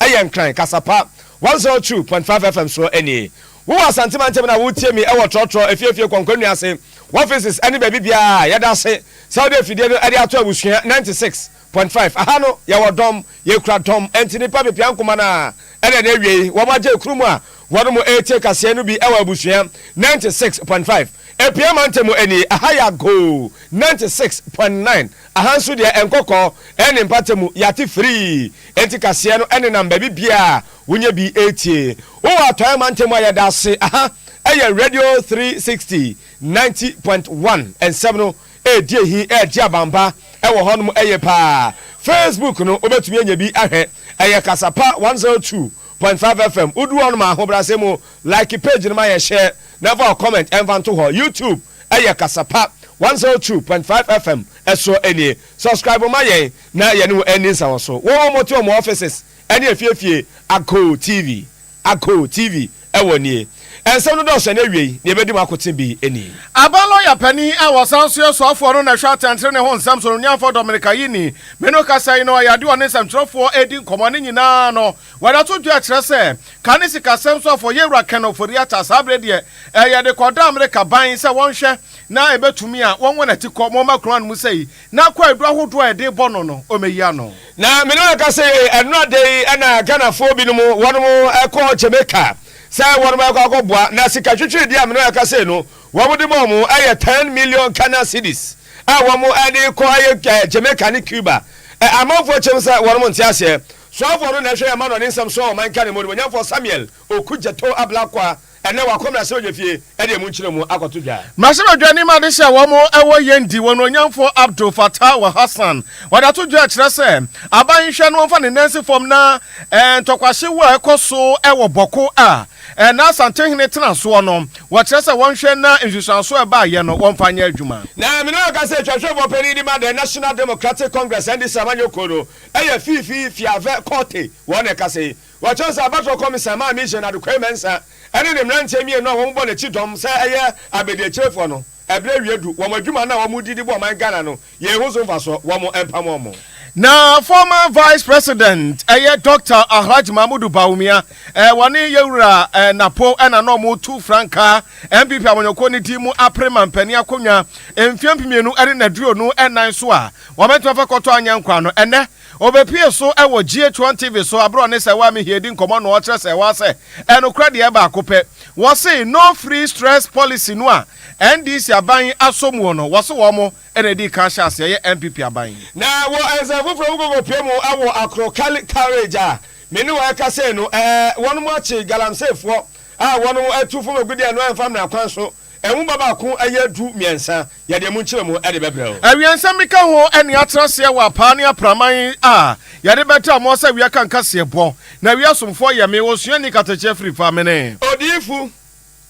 Ɛyɛ Nkran kasa pa one zero two point five FM soɔ nie. Wo wɔ Asante mantam na woretie me wɔ trɔtrɔ, efiefie, kɔnkɔn nnua ase, wɔfises ɛne baabi biara a, yɛda ase sɛ wode afidie no de ato abusua ninety six point five. Aha no yɛwɔ dɔm, yɛkura dɔm, ɛnti nnipa pepia nkoma no a ɛna ɛnɛ awiei wɔn agye kuru mu a, Wɔnom retie kaseɛ no bi wɔ abusua ninety six point five Apia mantam mu nie, aha yɛ agoo ninety six point nine Aha nso deɛ nkɔkɔɔ ne mpata mu yɛate firii Enti kaseɛ no nenam baabi biaa wonyɛ bi retie Wowɔ atɔeɛ mantam mu a yɛda ase Aha yɛ Radio three sixty ninety point one Nsɛm no redi ahi regye abampa wɔ hɔnom yie paa Facebook no wobɛtumi anya bi ahwɛ Ɛyɛ Kasapa one zero two Point five FM wo duru hɔ no ma ahobrɛase mu like page no ma yɛ share na fa wo comment ɛnfa nto hɔ YouTube ɛyɛ kasa pa one zero two point five FM ɛsoɔ ɛnie subscribe ma yɛn na yɛne wo ɛndi nsawɔso wɔ wɔn mote wɔn offices ɛne afie afie Agoo TV Agoo TV ɛwɔ nie. Nsɛm no dɔɔso, ɛna awiei nea ebedi mu akoten bi ni. Aba lɔya panyin a ɔsan nso yɛ soafoɔ no na ɛhwɛ atɛntrenee ho nsɛm so no, Nuafoɔ Dominica yi ni. Me no kasa yi no, ɛyɛ adeɛ a ɔne nsɛmtwerɛfoɔ redi nkɔmmɔ. Ne nyinaa no, wada to dwa kyerɛ sɛ, ka ne sikasɛm soafoɔ Yewura Ken Ofori-Atta, saa berɛ deɛ, ɛyɛ de kɔda Amerika ban sɛ wɔnhwɛ na ɛbɛtumi a, wɔnwo n'ati kɔ Moma Kuro ano mu sei na kwaadu ahodoɔ a yɛde rebɔ no no, wɔayi ano. Na me ne wɔn kasa yi, ɛnnora da yi na Ghanafoɔ binom, wɔnom kɔ Jamaica. Sɛ wɔn bɛkɔ akɔboa na sika twetwedi a me ne wo ɛka sei no wɔn de ma wɔn ɛyɛ ten million Ghana cedis a wɔn ɛde kɔ ɛyɛ ɛɛ Jamaica ne Cuba ɛ amanfoɔ kyɛm sɛ wɔn nte aseɛ soafoɔ no na ɛhwɛ yɛn ma no ne nsɛm soɔ ɔman Ghana mu animuonyamfoɔ Samuel Okudzeto Ablakwa ɛnɛ wakɔ mmarahyɛ badwafie Ɛdeɛ monkyerɛ mu akɔto dwa. Mmarahyɛbadwa no anim ade sɛ wɔn wɔ yɛn di wɔn onyamfo Abdul Fattah wa Hassan wɔdato dwa kyerɛ sɛ aban nhwɛ no ɔmfa ne nansi fam na ntɔkwahye wo a ɛkɔ so wɔ Bɔko a ɛna Asantenhene tena soɔ no wɔkyerɛ sɛ wɔnhwɛ na nsusuanso a ɛbaeɛ no wɔmfa nyɛ adwuma. Na mene ɔka sɛ Twanhwɛfoɔ panin de ma the National Democratic Congress, NDC, amanyɔkuo no yɛ Fifi Fiavɛ Korte wɔn na ɛkasa yi Wɔkyerɛw sɛ abatoɔ kɔmisa maa Mission Adequaye Mensah ne ne mmeranteɛ mmienu a wɔbɔ n'akyi dɔm sɛ ɛyɛ abadiakyirefoɔ no, ɛberɛ awie adu, wɔn adwuma no a wɔredi de bɔ ɔman Ghana no, yɛn ho so mfasoɔ, wɔn mpam wɔn. Na former Vice President ɛyɛ Doctor Alhaj Mahmudu Bawumia, wɔne Yawura Napo na na wɔretu frankaa NPP amanyɔkuo no din mu apere mampanin akonnwa mfeɛ mpemienu ne aduonu nan so a wɔbɛtumi afa kɔtɔ anyankwaa no ɛnnɛ. Ɔbɛpue so wɔ GH1 TV so aberɛ ɔne Sɛwaa Mihie di nkɔmmɔ no ɔkyerɛ Sɛwaa sɛ ɛnokorɛ deɛ baako pɛ wɔse no free stress policy no a NDC aban asɔ muo no wɔse wɔn mo na ɛdii kan hyɛ aseɛ yɛ NPP aban. Na wɔ nsɛm foforɔ mu kɔkɔpue mu wɔ Akro Kali Courage a me ne wɔn ɛkasa yi no ɛɛ wɔnom akye Galamseyfoɔ a wɔnom atu fam agudeɛ no ɛmfa mmara kwan so. Nwoma baako yɛ du mmiɛnsa. Yɛde emu nkyerɛmu de bɛbrɛ wo. Awiɛnsɛm bi ka ho ne atra aseɛ wɔ apaa ne apraman a yɛde bɛtaa mo ɔsɛ awia ka nkaseɛ bɔ. Na awia asomfoɔ yɛ me, osuani katakyeɛ firi fa mene. Odiyifo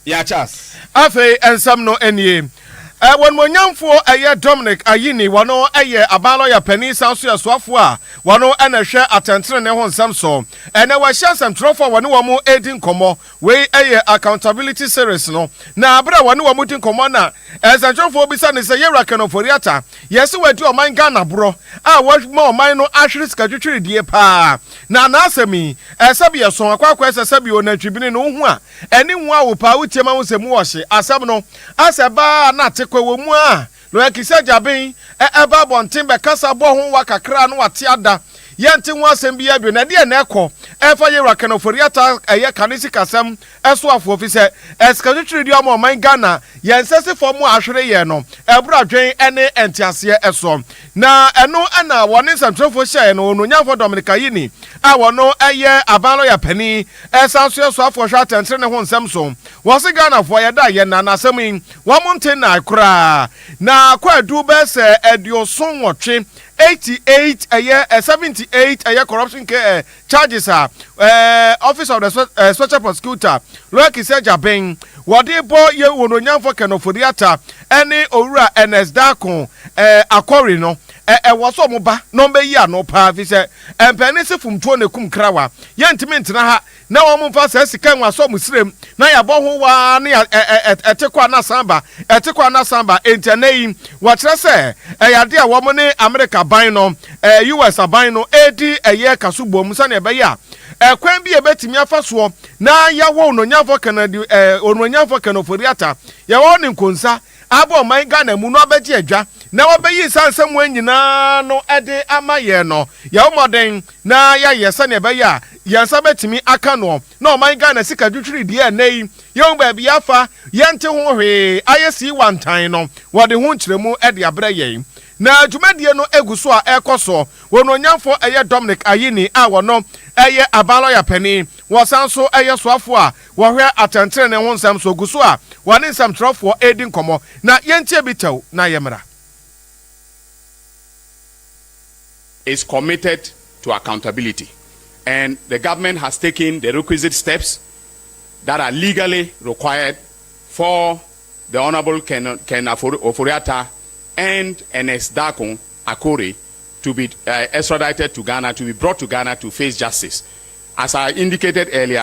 Yachas. Afei nsɛm no nie. W'animuonyamfoɔ ɛyɛ Dominic Ayine, wɔno ɛyɛ aban lɔya panin san so yɛ soafoɔ a wɔno na ɛhwɛ atɛntenenee ho nsɛm so. Ɛnɛ wahyia nsɛmtwerɛfoɔ a wɔne wɔn ɛredi nkɔmmɔ Wei yɛ Accountability Series no, na bere a wɔne wɔn redi nkɔmmɔ na nsɛnkyerɛwfo bisa no sɛ, Yewura Ken Ofori-Atta, yɛse wadi ɔman Ghana borɔ a wama ɔman no ahwere sikatwitwiridie paa, na n'asɛm yi, sɛbi ɛsõ akɔ akɔɛ sɛ sɛbi onantwibene na ohu a, ani nwaa wo paa, wotie ma wohu sɛ mu wɔ hye. Asɛm no, asɛ baa a na ate kɔ wɔ mu a, Noakisɛ gyaben ɛ ba abɔnten bɛkasa bɔ ho wa kakraa no wate ada yɛ nte ho asɛm biaa bio na ɛdeɛ na ɛkɔ ɛfa yɛwura Ken Ofori-Atta ɛyɛ kane sikasɛm soafoɔ fisɛ ɛsikatwitwiridie ama ɔman Ghana yɛ nsɛsifɔ mo a ahwere yɛn no ɛboro adwen ɛne ɛnteaseɛ soɔ na ɛno ɛna wɔne nsɛmtwerɛfoɔ hyɛɛ no Onuonyamfoɔ Dominic Ayine a wɔno ɛyɛ aban lɔya panin ɛsan so yɛ soafoɔ hwɛ atɛntenenee ho nsɛm so wɔse Ghanafoɔ yɛda yɛn nan na asɛm yi Wɔnte nnae koraa. Na kɔ aduru bɛyɛ sɛ aduoson nwɔtwe, eighty eight, ɛyɛ eh, seventy eight, ɛyɛ corruption ke eh, charges a eh, Office of the Spe eh, Special Prosecutor, Lawyer Kissi Agyabeng, wɔde bɔ yɛn wɔn onyamfo Ken Ofori Atta ɛne Owura Ernest Darko eh, Akori no, eh, ɛwɔ sɛ wɔn ba na wɔn bɛyi ano paa, ɛfiri sɛ mpɛn ne se fomtuo na ɛkum krawa. Yɛntumi ntena ha. na wɔmfa saa sika nwa sɔ mo srem na yɛabɔ ho waa ne ɛte kɔ ana san ba ɛte kɔ ana san ba enti ɛnɛ yi wɔkyerɛ sɛ ɛyɛ ade a wɔn ne Amerika ban no ɛɛ US aban no ɛredi ɛyɛ kaso bom sɛnea ɛbɛyɛ a ɛkwan bi a ɛbɛtumi afa soɔ na yɛawɔ ononyamfo kanadi ɛɛ ononyamfo kanoforiata yɛwɔ ne nkonsa Aba ɔman Ghana mu no abɛgye adwa na wɔabeyi nsa nsɛmmoa nyinaa ano de ama yɛn no, yɛbɔ mmɔden na yɛayɛ sɛnea ɛbɛyɛ a yɛn nsa bɛtumi aka noɔ na ɔman Ghana sika twitwiridie a ɛnnɛ yi yɛhu baabi yɛafa, yɛnte ho hwee, ayɛ sii wantann no, wɔde ho nkyerɛmu de abrɛ yɛn. Na dwumadie no gu so a ɛrekɔ soɔ. Wɔn ɔnyamfoɔ yɛ Dominic Ayine a ɔno yɛ Aban Lɔya Panin, wɔsan nso yɛ soafoɔ a Wɔhwɛ atɛntrenee ho nsɛm so gu so a wɔne nsɛmtwerɛfoɔ redi nkɔmmɔ, na yɛntie bi tɛw na yɛmmra. is committed to accountability and the government has taken the requisite steps that are legally required for the Honourable Ken Ken Ofori-Atta and Ernest Darkon Akore to be uh, extradited to Ghana, to be brought to Ghana to face justice. As I indicated earlier,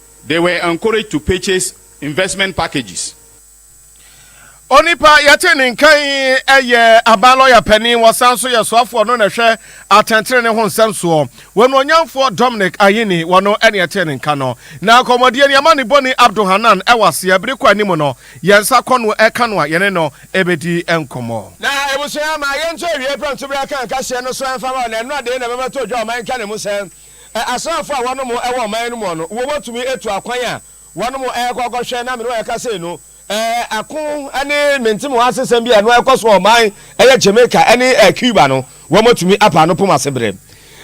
They were encouraged to purchase investment packages. Onipa yɛte ne nka yi yɛ aban lɔya panin, wɔsan nso yɛ soafoɔ no na ɛhwɛ atɛntenene ho nsɛm soɔ. Wɔnuonyamfoɔ Dominic Ayine, wɔno ne yɛte ne nka no. Na akɔmmɔdie ni ama ne boni Abdul Hanan wɔ aseɛ, bere kɔ anim no, yɛn nsa kɔ no ɛka no a yɛne no bɛdi nkɔmmɔ. Na abusua, ma yɛnto awieɛ prɛmtoberɛ aka nka hyeɛ no so ɛmfa ma wo, na ɛno na dee na ɛbɛma to dwa ɔman nka ne mu sɛ. Ɛ asraafo a wɔnom wɔ ɔman no mu no, wɔbɛtumi atu akwan a wɔnom rekɔ akɔhwɛ na me ne wɔn reka sei no? Ɛ Ako ne mentemoasesɛm bi a ɛno ɛrekɔ so wɔ ɔman ɛyɛ Jamaica ne ɛ Cuba no, wɔatumi apa ano pom ase berɛ.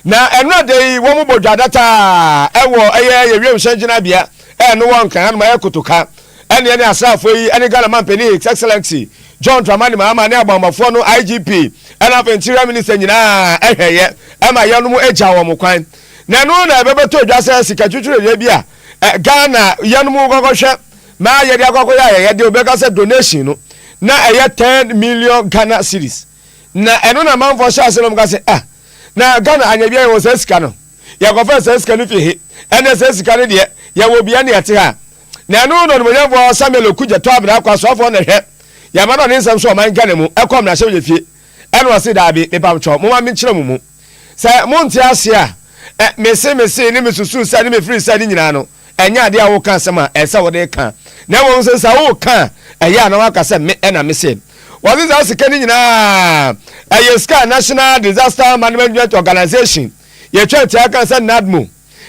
Na ɛnnora da yi wɔbɔ dwadata wɔ ɛyɛ yɛ wiemhyɛn gyinabea ɛ no wɔ Nkran hanom ɛyɛ Kotoka. Ɛnneɛ ne asraafo yi ne Ghana Mampanin His Excellency John Dramani Mahama ne Abɔnmɔfoɔ no IGP ɛna afei Interior Minister nyinaa hwɛeɛ ɛma yɛnom gyaa wɔn kwan. Na ɛno na ɛbɛbɛtɔ dwa sɛ sika twitwiredeɛ bi a Ghana yɛnom kɔkɔhwɛ na yɛde akɔkɔyɛ ayɛyɛdeɛ wobɛka sɛ donation no na ɛyɛ ten million Ghana cedis. Na ɛno na amanfoɔ hyɛɛ ase na wɔka sɛ ah na Ghana anyɛ biara yɛwɔ saa sika no yɛkɔfaa saa sika no firi he ɛnɛ saa sika no deɛ yɛwɔ biara na ɛte ha. Na ɛno no na onimuonyamfoɔ Samuel Oku Gyatɔ Abena akɔ asraafoɔ na hwɛ, yɛama no ne nsɛm so ɔman Ghana mu ɛkɔ mmarahyɛbadwa fie ɛna ɔse daabi, mepamkyɛw momma menkyerɛ mo mu sɛ monte aseɛ a, ɛ, mese mesee ne mesusuu sɛ ne mefirii sɛ ne nyinaa no ɛnyɛ adeɛ a woka asɛm a ɛsɛ sɛ wode ka na mmom sɛ sɛ woka a ɛyɛ a na woaka sɛ me ɛna mese wɔse saa sika no nyinaa ɛyɛ sika a National Disaster Management Organization yɛtwa ntia ka sɛ NADMO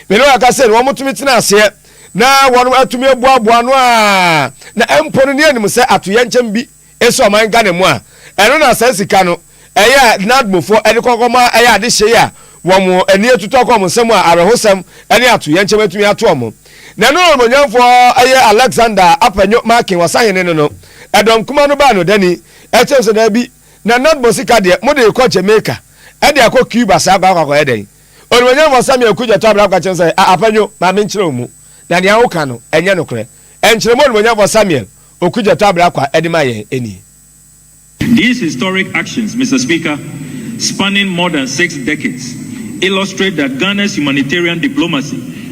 Me ne wɔn a ɛka sɛ nea wɔtumi tena aseɛ na wɔatumi aboaboa ano a na mpo no ne anim sɛ atoyɛnkyɛm bi si ɔman Ghana mu a, ɛno na saa sika no ɛyɛ a Nadmofoɔ de kɔkɔma ɛyɛ adehyee a wɔn ani atutu akɔ wɔn nsam a awerɛhosɛm ne atoyɛnkyɛm atumi ato wɔn. Na ɛno na onimuonyamfoɔ ɛyɛ Alexander Apanyo Markin Ɔsahene no no ɛdɔm kuma no baa no dani kyerɛ sɛ daabi, na Nadmo sika deɛ mode rekɔ Jamaica de akɔ Cuba saa kɔ akɔakɔyɛ dɛn? Onuonyamfo Samuel Aku Gyata Abraham ka kyerɛ no sɛ, A Apadwo, ma menkyerɛ wo mu, na nea woka no, ɛnyɛ nokorɛ. Nkyerɛmu a Onuonyamfo Samuel Oku Gyata Abrahkwa de ma yɛn nie. These historic actions, Mister Speaker, spanning more than six decades, illustrate that Ghana's humanitarian diplomacy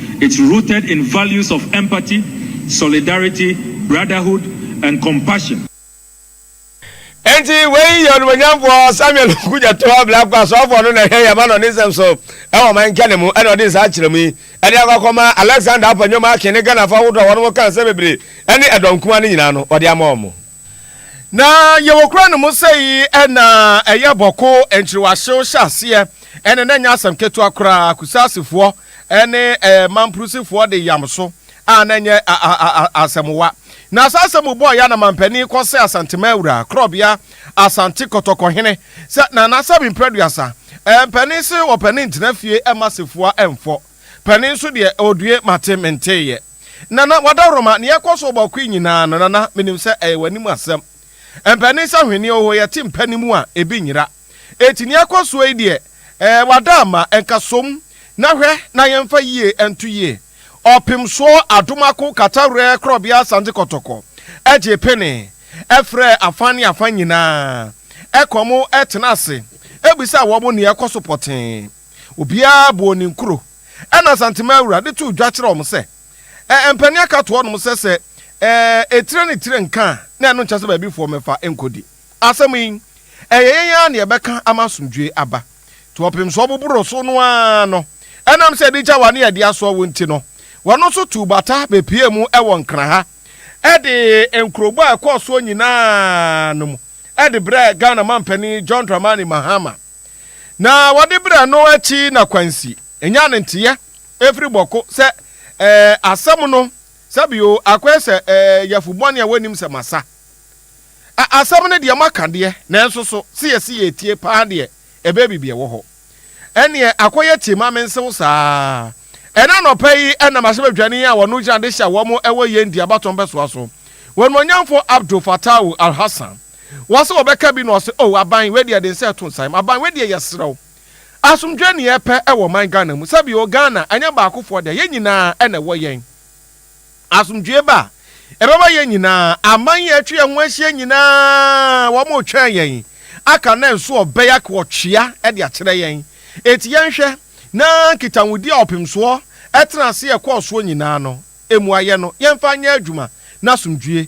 It's rooted in values of empathy, solidarity, brotherhood and compassion. Enti wei yɛ onimuonyamfoɔ Samuel Okudzeto a Blacko asɔɔfoɔ no na ɛhwɛ yɛn ma no ne nsɛm so wɔ ɔman nkyɛne mu ɛna ɔde nsa akyerɛ mu yi ɛde akɔ akɔma Alexander Appa Nyomakin ne Ghanafoɔ ahodoɔ a wɔnom ka nsɛm bebree ɛne ɛdɔm kumaa no nyinaa no ɔde ama wɔn. Na yɛwɔ kura no mu sɛ yi ɛna ɛyɛ bɔko nkyerewahyew hyɛ aseɛ ɛne na nyɛ asɛm ketewa koraa kusaasifoɔ ɛne ɛɛ mampurusifoɔ de yam so a na nyɛ asɛmwa na saa asɛm mu bɔɔ yɛ anamampanin kɔ sɛ asantema awura korɔbea asante kɔtɔkɔhene sɛ na n'asɛm mprɛduasa ɛɛ mpanin se ɔpanin ntena fie ɛma sefoa ɛmfɔ panin nso deɛ ɔdue mate menteeɛ Nana Wadaroma, nea ɛkɔ so wɔ Bawku yi nyinaa no, Nana, minim sɛ ɛyɛ w'anim asɛm. Mpanin sɛ hweneɛ oho, yɛte mpa no mu a, ebi nyera. Enti nea ɛkɔ soɔ yi deɛ, ɛɛ, wada ama, nka som, na hwɛ na yɛmfa yie nto yie. Ɔpemsoɔ Adomako Katawerɛ Korɔbea Asante Kɔtɔkɔ gyee pene, frɛɛ afa ne afa nyinaa, kɔɔ mu tenaa ase bisaa wɔn nea ɛkɔ so pɔtee. Obiara bɔɔ ne nkuro. Ɛna Asantema Awura de too dwa kyerɛɛ wɔn sɛ, Ɛ mpanin aka ato hɔnom sɛ sɛ ɛ etire ne tire nka a, na ɛno nkyɛ sɛ baabi foɔ mmɛfa nkɔdi. Asɛm yi, ɛyɛ yɛn ara na yɛbɛka ama asomdwoeɛ aba. To ɔpem so ɔboboro so no ara no, ɛnam sɛ ɛde gya wa ne ɛde asoa wo nti no, wɔn nso tuu bata bɛpuee mu wɔ Nkraha de nkurobɔ a ɛkɔɔ soɔ nyinaa no mu de brɛɛ Ghana mampanin John Dramani Mahama. Na wɔde brɛɛ no akyi na kwansi nya ne nteɛ ɛfiri bɔko sɛ ɛɛ asɛm no sɛ bi o akɔɛ sɛ ɛɛ yɛfo bɔne a wɔnim sɛ masa a asɛm no deɛ maka deɛ nanso so se yɛse yɛtie paa deɛ ɛbɛɛ bibi ɛwɔ hɔ ɛneɛ akɔyɛ tie ma mensew saa ɛna nɔpɛ yi ɛna mahyɛ badwani a wɔno gyina de hyɛ wɔn ɛwɔ yɛn di abatɔn bɛsoa so wɔn onyamfo Abdul Fatau Al-Hassan Wɔn sɛ wɔbɛka bi na wɔse oh aban wei deɛ ɛden sɛ ɛto nsa yɛm aban wei deɛ yɛsrɛ wo asomdwoeɛ ne yɛpɛ ɛwɔ ɔman Ghana mu sɛbi oh Ghana ɛnyɛ baakofoɔ dea yɛn nyinaa na ɛwɔ yɛn asomdwoeɛ ba a ɛbɛma yɛn nyinaa aman yi a atwa yɛn ho ahyia nyinaa wɔn retwɛn yɛn aka na nso ɔbɛyak wɔtwea ɛde akyerɛ yɛn eti yɛnhwɛ na nkitahodi a ɔpemsoɔ ɛtena ase ɛkɔɔ soɔ nyinaa no emu ayɛ no yɛmfa nyɛ adwuma na asomdwoeɛ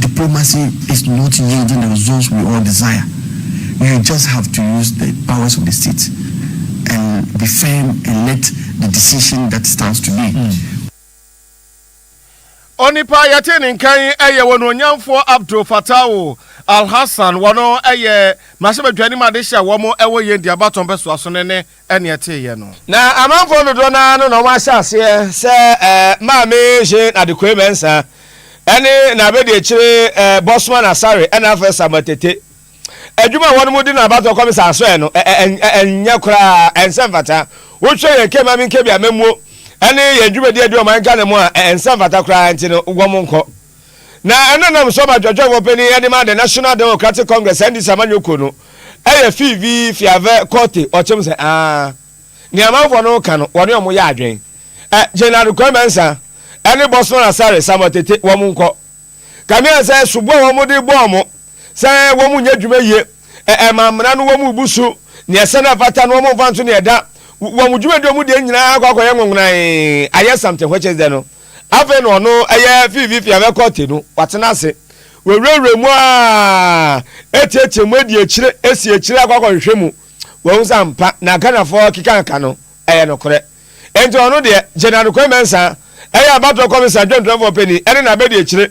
Diplomacy is not yielding the results we all desire, you just have to use the powers of the state and be firm and let the decision that stands today. Onipa yɛte ne nkan yɛ wɔn onyamfoɔ Abdul Fatawo Alhassan wɔn yɛ mmarahyɛbadwa anim adehyɛ a wɔn wɔ yɛn diabatɔn bɛsoaso ne ne ɛne ɛteeɛ no. Na amanfoɔ dodoɔ no ara no na wɔahyɛ aseɛ sɛ Maame Jeanne Adequey Mensah ne n'abɛdiakyire Bossman Asare ɛna afei Samuel Tete. Adwuma a wɔnom di no abatoɔ kɔm saa so ɛ no ɛnyɛ koraa, ɛnsɛ mfata. Wohwɛ yɛn Kɛ Mame Nkebi amammuo ɛne yɛn dwumadie a ɛdi ɔman Ghana mu a, ɛnsɛ mfata koraa nti no wɔn nkɔ. Na ɛna nam so ɔba dwɔdwɔn wɔ panyin ɛde ma the National Democratic Congress, NDC, amanyɔkuo no ɛyɛ fii vi fiavɛ kɔte ɔkyem sɛ aa nea amanfoɔ no reka no wɔne wɔn yɛ adwen ɛ Jaynard Kwame Mensah ɛne Bosman Asare Samuel Tete wɔn nkɔ kanea sɛ soboɔ a wɔn de bɔ wɔn sɛ wɔn nyɛ adwuma yie, ɛma mmara no wɔn bu so, nea ɛsɛ na ɛfata no wɔn mfa nso nea ɛda, wɔn dwuma di wɔn deɛ nyinaa akɔ akɔyɛ nwonwonan ayɛ something which is dɛ no afei na ɔno ɛyɛ fiifi fi abɛkɔ te no watena ase wɔwurawura mu a ɛtiatia mu adi akyire esi akyire akɔ akɔ nhwɛ mu wɔn nsa mpa na Ghanafoɔ kekanka no ɛyɛ nokorɛ nti ɔno deɛ General Kwame Mensah ɛyɛ abatoɔ kɔmisa adwantwanfoɔ panin ɛne na abɛdi akyire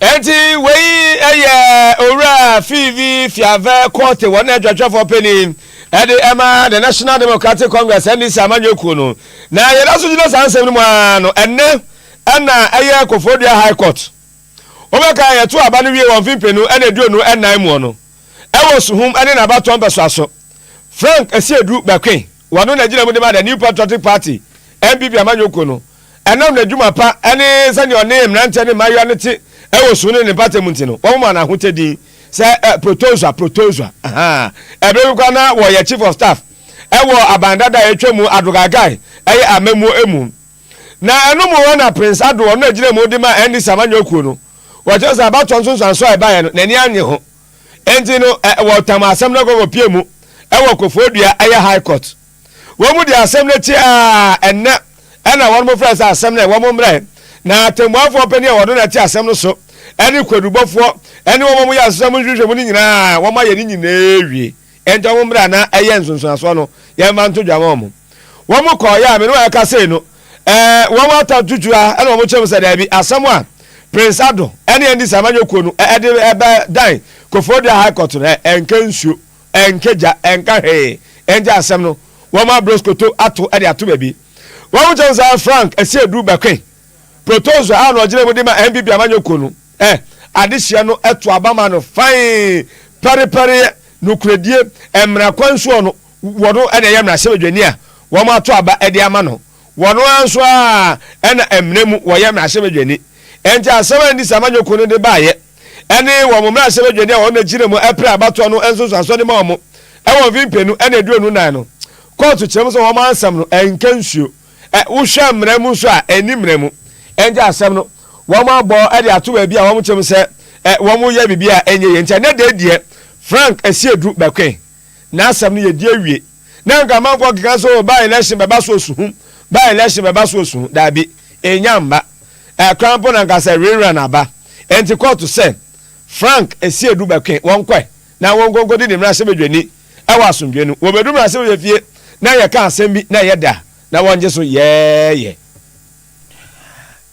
Enti wei yɛ Owura Fiivi Fiavɛ Korte wɔn adwatwafoɔ panin de ɛma the National Democratic Congress NDC amanyɔ kuo no. Na yɛda so gyina saa nsɛm no mu ara no ɛnnɛ ɛna ɛyɛ Koforidua High Court. Wobɛka yɛto aba no wie wɔ mfe mpenu ɛne aduonu ɛnan muɔ no ɛwɔ Suhum ɛne n'abatoɔ mpɛsoa so Frank Asiedu Bɛkwen. Wɔno na gyina mu de ma The New Patriotic Party, NPP amanyɔkuo no. Ɛnam n'adwuma pa ne sɛdeɛ ɔne mmeranteɛ ne mmaayewa no te wɔ su ne ne mpata mu nti no, wɔmomaa no ahotɛ din sɛ Protozoa, Protozoa. Ahaa. Berɛ bi koraa na ɔyɛ Chief of Staff wɔ aban dada a atwa mu Adogagai yɛ amammuo mu. Na ɛno mu hɔ na Prince Ado, ɔno na gyina mu de ma NDC amanyɔkuo no, wɔkyerɛ sɛ abatoɔ nsonsoansoɔ a ɛbaeɛ no, n'ani annye ho. Enti no ɛ wɔtam asɛm no kɔkɔpie mu wɔ Koforidua ɛyɛ High Court. Wɔn de asɛm no akyi a ɛnnɛ ɛna wɔn frɛ sɛ asɛm no ɛ wɔn mmra ɛ na atɛmmuafoɔ panin a wɔno na ɛte asɛm no so ɛne kwadubɔfoɔ ɛne wɔn a wɔyɛ asesam nhwehwɛmu no nyinaa wɔn ayɛ ne nyinaa awie. Enti wɔn mmra na ɛyɛ nsonsonasoɔ no, yɛmfa nto dwa ma wɔn. Wɔn kɔɔeɛ a me ne wɔn ɛkasee no, ɛɛ, wɔn ata tutu a ɛna wɔn kyerɛm sɛ daabi, asɛm a Prince Addo ɛne Andy Samanyo kuo no ɛde ɛbɛ dan Koforidua High Court no, ɛɛ, ɛnkɛ nsuo, ɛnkɛ gya, ɛnka hwee. Enti asɛm no, wɔn abrɔ skoto ato ɛde ato baabi. Wɔn kyerɛm sɛ Frank Asiedu Bɛkwen, Protozoa a na ɔgyina mu de ma NPP amanyɔkuo no, Ɛ, adehyeɛ no to aba ma no fann, pɛrepɛreɛ, nokorɛdie, mmara kwan soɔ no, wɔn na ɛyɛ mmarahyɛbadwani a wɔato aba de ama no. Wɔn ara nso ara na mmara mu wɔyɛ mmarahyɛbadwani. Enti asɛm a Ndisa Manyoko no de baeɛ ne wɔn mmarahyɛbadwani a wɔn gyina mu pere abatoɔ no nsonsoansoɔ de ma wɔn wɔ mfe mpenu na aduonu nan no, kɔɔto kyerɛm sɛ wɔn ansɛm no nka nsuo. Ɛ, wohwɛ mmara mu nso a, ɛnni mmara mu. Ɛnde asɛm no, wɔabɔ de ato baabi a wɔte mu sɛ, ɛ, wɔyɛ biribi a ɛnyɛ yie. Nti ɛnnɛ da yi deɛ, Frank Asiedu bɛkoe. N'asɛm no yɛdi awie. Na nka mankɔ nkeka sɛ, o, by election bɛba so osuhum, by election bɛba so osuhum. Daabi, ɛnnya mma. Ɛ, koraa mpo na nka sɛ re-run aba. Ɛnti kɔɔto sɛ. Frank si edu bɛkwe wɔn kɔe na wɔnkɔnkɔdi ne mmarahyɛbadwani wɔ asomdwoe no. Wɔbedu mmarahyɛbadwa fie na yɛka asɛm bi na ɛyɛ dɛ a, na wɔgye so yɛɛyɛ.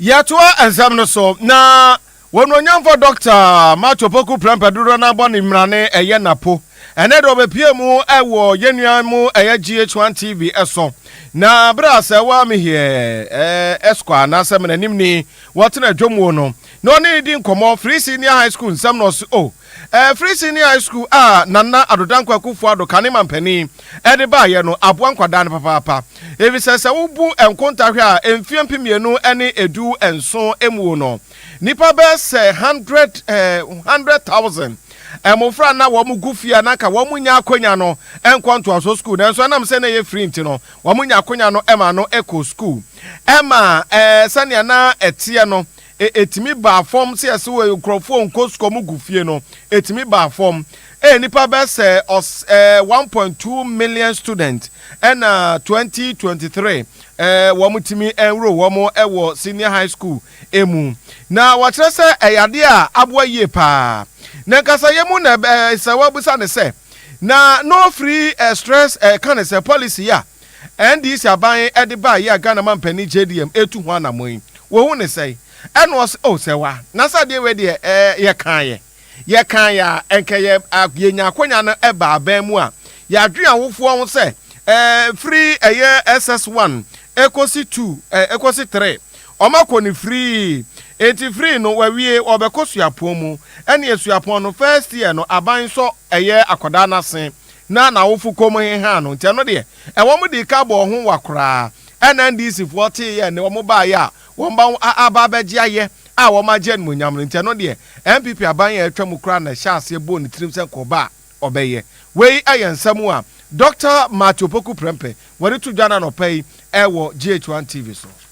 Yɛtoa nsɛm no so, na Onuonyamfo Dɔkta Mark Opoku Prempeh dodoɔ no ara bɔ ne mmrane ɛyɛ n'apo. Ɛnnɛ deɛ ɔbɛpue mu wɔ yɛn nua mu ɛyɛ GH1 TV so. Na berɛ a sɛ woa me heɛ, eh, Esquire anaasɛ Mananim ni, wɔtena dwom wo no, na ɔne no di nkɔmmɔ Free Senior High School nsɛm na ɔse oh eh, Free Senior High School a Nana Addo Dankwa Akufo-Addo kane mampanin de baeɛ no aboa nkwadaa no papaapa efisɛ sɛ wobu nkonta hwɛ a mfeɛ mpem mmienu ne edu nson muo no nnipa bɛyɛ sɛ hundred eh, hundred thousand mmofra na wɔn gu fie a na anka wɔn nya akonya no nkɔ ntoasoɔ sukuu nanso ɛnam sɛ na ɛyɛ free nti no wɔn nya akonya no ma no kɔ sukuu ɛma eh, sɛnea na ɛteɛ no E Etumi baa fam sɛ yɛse wɔ nkurɔfoɔ nkɔ sukuu ɔmo gu fie no etumi baa fam e nnipa bɛyɛ sɛ ɔs ɛɛ one point two million student ɛna twenty twenty three ɛɛ wɔn tumi ɛnworo wɔn ɛwɔ senior high school emu na wɔkyerɛ sɛ ɛyɛ adeɛ a aboa yie paa na nkasa yɛ mu na ɛbɛ sɛ wɔbusa ne sɛ Na no free eh, stress eh, ka ne sɛ policy yi a NDC aban de baa yi a Ghana man panin JDM etu ho anamɔn yi, wo hu ne sɛn? Ɛna ɔse oh sɛ wa, na sɛ adeɛ wei deɛ eh, yɛ kaeɛ, yɛ kaeɛ a, nkɛ yɛ a, yɛ nya akwanya no ba aban mu a, yɛ adwene awofoɔ ho sɛ eh, firi ɛyɛ SS one, ɛkɔsi two, eh, ɛkɔsi three, Wɔakɔ no free. Enti free no wawie ɔbɛkɔ suapɔn mu. Ɛneɛ suapɔn no first year no aban sɔ ɛyɛ akɔdaa no ase na nawofo kɔm hehaa no nti ɛno deɛ ɛwɔ mo dii ka bɔɔ ho wa koraa ɛna NDC foɔ tee yɛ ne wɔn baa yɛ a wɔn ba wo a aba abɛgye ayɛ a wɔn agye animonyam no nti ɛno deɛ NPP aban a atwa mu koraa na ɛhyɛ aseɛ bɔɔ ne tirim sɛ nka ɔba a ɔbɛyɛ. Wei ɛyɛ nsɛm a Doctor Marty Opoku Prempeh wɔde to dwa no anɔpa yi ɛwɔ GH1 TV so.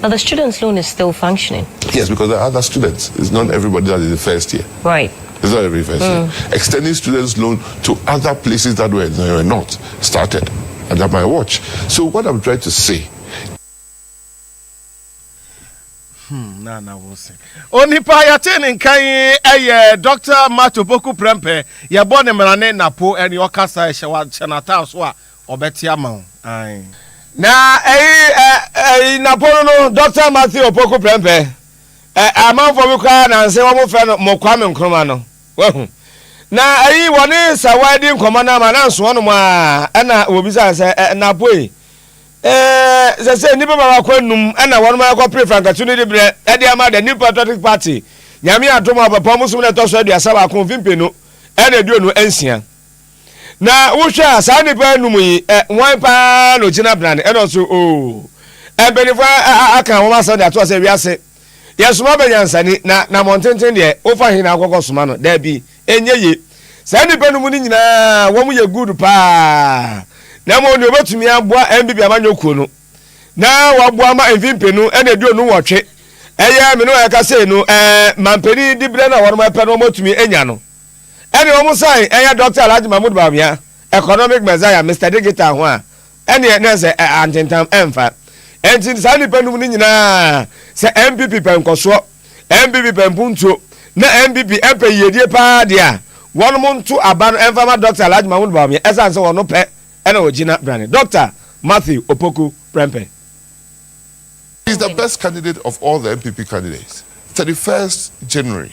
But the students loan is still functioning. Yes, because there are other students. It's not everybody that is in first year. Right. It's not every first mm. year. Hmm. Extending students' loan to other places that were, were not started under my watch. So what I'm trying to say. Hmm, na na wo se onipa yɛte ne nkan ɛyɛ dr mato boku prɛmpɛ yɛbɔ ne mmarane napo ɛne ɔkasa ɛhyɛ wahyɛ n'ataa so a Ɔbɛte ama wo ae. Na ɛyi ɛ ɛyi nnapɔnno no Dɔkta Matthew Opoku Prempeh ɛ amanfoɔ bi koraa nanse wɔn frɛ no Mo Kwame Nkrumah no wahu na ɛyi wɔne Sawa adi nkɔmmɔ no ama nanso wɔnom ara ɛna wɔbisa no sɛ ɛ Nnapoi ɛ sɛsɛ nnipa baako anum ɛna wɔnom ɛkɔ pere Frankatu no de berɛ ɛde ama the New Patriotic Party Nyame adom a ɔpɛpɔn bosom no ɛtɔ so aduasa baako mfe mpenu ɛna aduonu nsia Na wohwɛ a, saa nnipa anum yi, ɛ, hwan paa na ogyina bena ne, ɛno nso, oo, ɛ, mpanyinfoɔ a, a, a, aka wɔn asɛm de ato asɛ wiase. Yɛsoma bɛ nyansani, na, na mmɔntenten deɛ, wofa he na wokɔkɔ soma no? Daabi, ɛnyɛ ye. Saa nnipa anum no nyinaa, wɔn yɛ good paa. Na mmom deɛ wɔbɛtumi aboa NBB amanyɔ kuo no, na wɔaboa ma mfe mpenu ne aduonu nwɔtwe, ɛyɛ me ne wɔn ɛka sei no, ɛ, mampanin diberɛ no a wɔn ɛpɛ no wɔn atumi anya no. Ɛne wɔn san yɛ Dɔkta Alhaji Mahmood Bawumia, Economic Messiah, Mister Digital ho a, ɛneɛ na ɛsɛ ɛ antentam ɛmfa. Ɛnti saa nnipa num no nyinaa, sɛ NPP pɛ nkɔsoɔ, NPP pɛ mpuntuo, na NPP pɛ yiedie paa deɛ a, wɔnom nto aba no ɛmfa ma Dɔkta Alhaji Mahmood Bawumia ɛsane sɛ wɔno pɛ na ɔgyina brane. Dɔkta Matthew Opoku Prempeh. He is the best candidate of all the NPP candidates, thirty first January.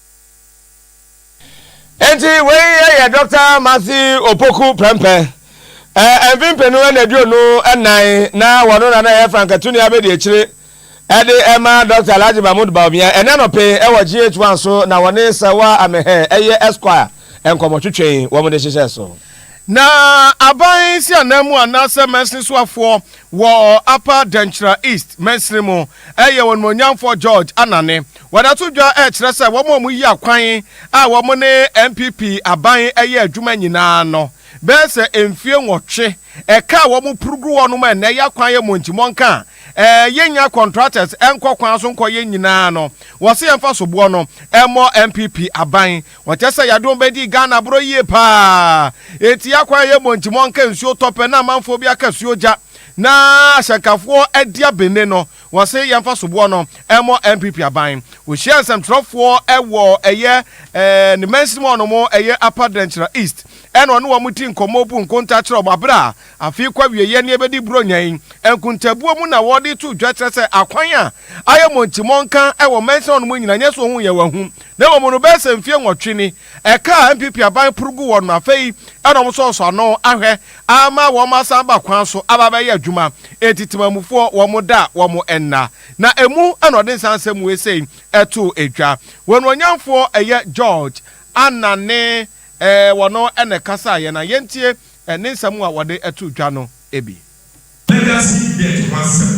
Enti wei yɛ Dɔkta Matthew Opoku Prempeh. Ɛɛ mfe mpenu na aduonu nnan na wɔno na na ɛyɛ frankatuni abedi akyire ɛde ɛma Dɔkta Alhaji Mahmood Bawumia. Ɛnɛ anɔpe ɛwɔ GH1 so na wɔne Serwaa Ameheh ɛyɛ Esquire nkɔmɔtwetwe wɔn de hyehyɛ so. Na aban nsianan mu anaasɛ mansini soafoɔ wɔ Upper Denkyira East mansini mu yɛ Onimuonyamfoɔ George Anane. Wɔda to dwa kyerɛ sɛ wɔn a wɔyi akwan a wɔn ne NPP aban yɛ adwuma nyinaa no bɛyɛ sɛ mfie nwɔtwe. Ɛka a wɔn puru gu hɔ no ma ɛnnɛ ya kwan yɛ mɔnkyi mɔnka a yɛnya contractors nkɔ kwan so nkɔyɛ nyinaa no wɔse yɛmfa soboɔ no mmɔ NPP aban. Wɔkyɛ sɛ yadom bɛdii Ghana borɔ yie paa enti yakwan a yɛmmɔ nti mɔnka nsuo tɔ pɛ na amanfoɔ bi aka suo gya na ahyɛnkafoɔ adi abenne no wɔse yɛmfa soboɔ no mmɔ NPP aban. Ɔhyiaa nsɛmtwerɛfoɔ wɔ ɛyɛ ne mansini mu a ɔnom ɛyɛ Upper Drenkyira East ɛna ɔne wɔn di nkɔmmɔ bu nkonta kyerɛ wɔn aberɛ a Afei kɔ awieeɛ ne ɛbɛdi Buronya yi nkontaabuo mu na wɔde to dwa kyerɛ sɛ akwan a ayɛ mɔnkyi-mɔnka wɔ mansini hɔnom nyina nyɛ sɛ ɔhu yɛ wahu na mmom no bɛyɛ sɛ mfeɛ nwɔtwe ni ɛka a NPP aban poro gu hɔ no afei na wɔsɔ wɔsɔ ano ahwɛ ama wɔn asan aba kwan so aba abɛyɛ adwuma enti temanmufoɔ wɔn da wɔn nna na ɛmu na ɔde nsa nsɛm wei sei ɛtoo dwa wɔn onyamfoɔ ɛyɛ George Anane Ɛɛ, wɔno na ɛkasaa yɛn a yɛntie ne nsɛm a wɔde too dwa no bi. Legacy Debt ho asɛm.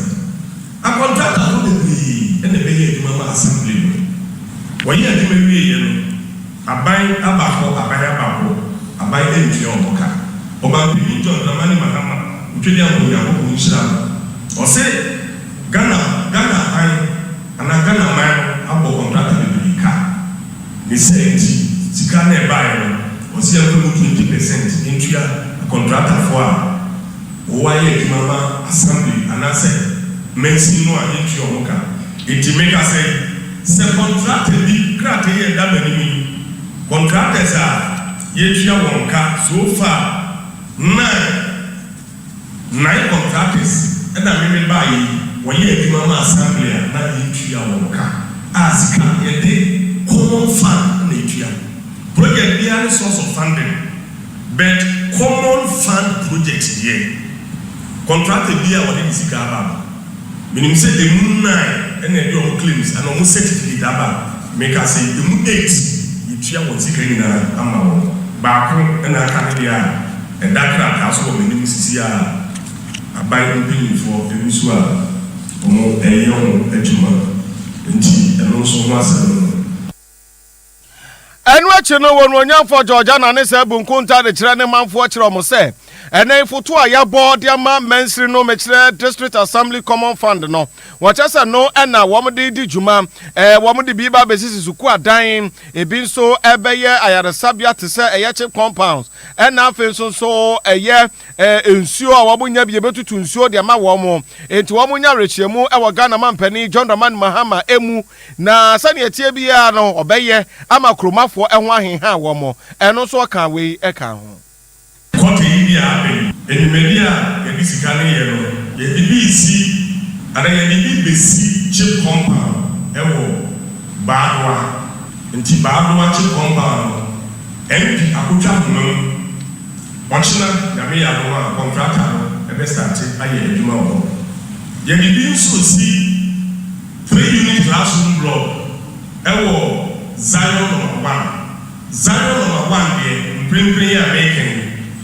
Akɔntratafo bebree na ɛbɛyɛɛ adwuma maa Assembly no. Wɔyɛɛ adwuma wieeɛ no, aban aba hɔ, aban aba hɔ, aban antua wɔn ka. Ɔmanpanin John Dramani Mahama Otwedeampong Nyankopɔn nhyira no, ɔse Ghana, Ghana aban, Ana Ghana man no abɔ kɔntrata bebree ka? Ne saa nti sika no a ɛbaeɛ no ɔse yɛmfa ɛmu twenty pɛsɛnt ntua akɔntratafoɔ a wɔwɔ ayɛ adwuma ma Assembly anaasɛ mansin no a yɛntua wɔn ka. Enti mekasa yi, sɛ kɔntrata bi krataa yi a ɛda m'anim yi, contractors a yɛatua wɔn ka so far nine, Nine of Gades na meme baeɛ yi, wɔyɛ adwuma ma assembly a na yɛntua wɔn ka a sika no yɛde common fund na ɛtua. Project biara ne source of funding but common fund project deɛ contractor biara a wɔde ne sika aba no, Menim sɛ ɛmu nnan na ɛde ɔmo claims anaa ɔmo certificate aba. Meka sɛ ɛmu eight yɛtua wɔn sika nyinaa ama wɔn. Baako na aka ne deɛ a ɛda krataa so wɔ m'anim sisi a aban mpanyinfoɔ gu so a ɔmo ɛyɛ ɔmo adwuma nti ɛno nso ho asɛm no. Ɛno akyi no, Onuonyamfoɔ George Annan ne saa bu nkontaa de kyerɛ ne manfoɔ kyerɛ wɔn sɛ, Ɛnnɛ mfoto a yɛabɔ de ama mansiri no mekyerɛ District Assembly Common Fund no. Wɔkyerɛ sɛ no na wɔn de redi dwuma. Ɛɛ, wɔn de bi ba bɛsisi sukuu adan, ebi nso bɛyɛ ayaresabea te sɛ ɛyɛ chip compounds, ɛna afei nso nso ɛyɛ ɛɛ, nsuo a wɔn nya bi yɛbɛtutu nsuo de ama wɔn. Enti wɔn nya awerɛkyeɛmu wɔ Ghana mampanin John Dramani Mahama mu. Na sɛdeɛ ɛteɛ biara no, ɔbɛyɛ ama kuromafoɔ ho aheha wɔn. Ɛno nso ɔkaa wei kaa ho. Kɔte yi de aben. Dwumadi a yɛde sika no yɛ no, yɛde bi resi anaa yɛde bi besi chip compound wɔ Baadoa. Nti Baadoa chip compound no, MP akotwa ahoma mu. Ɔkyena, Nyame yɛ adom a, kɔntrata no bɛstate ayɛ adwuma wɔ hɔ. Yɛde bi nso resi Three Unit Classroom Blog wɔ Zion Nɔma One. Zion Nɔma One deɛ mprempren yi a mereka yi,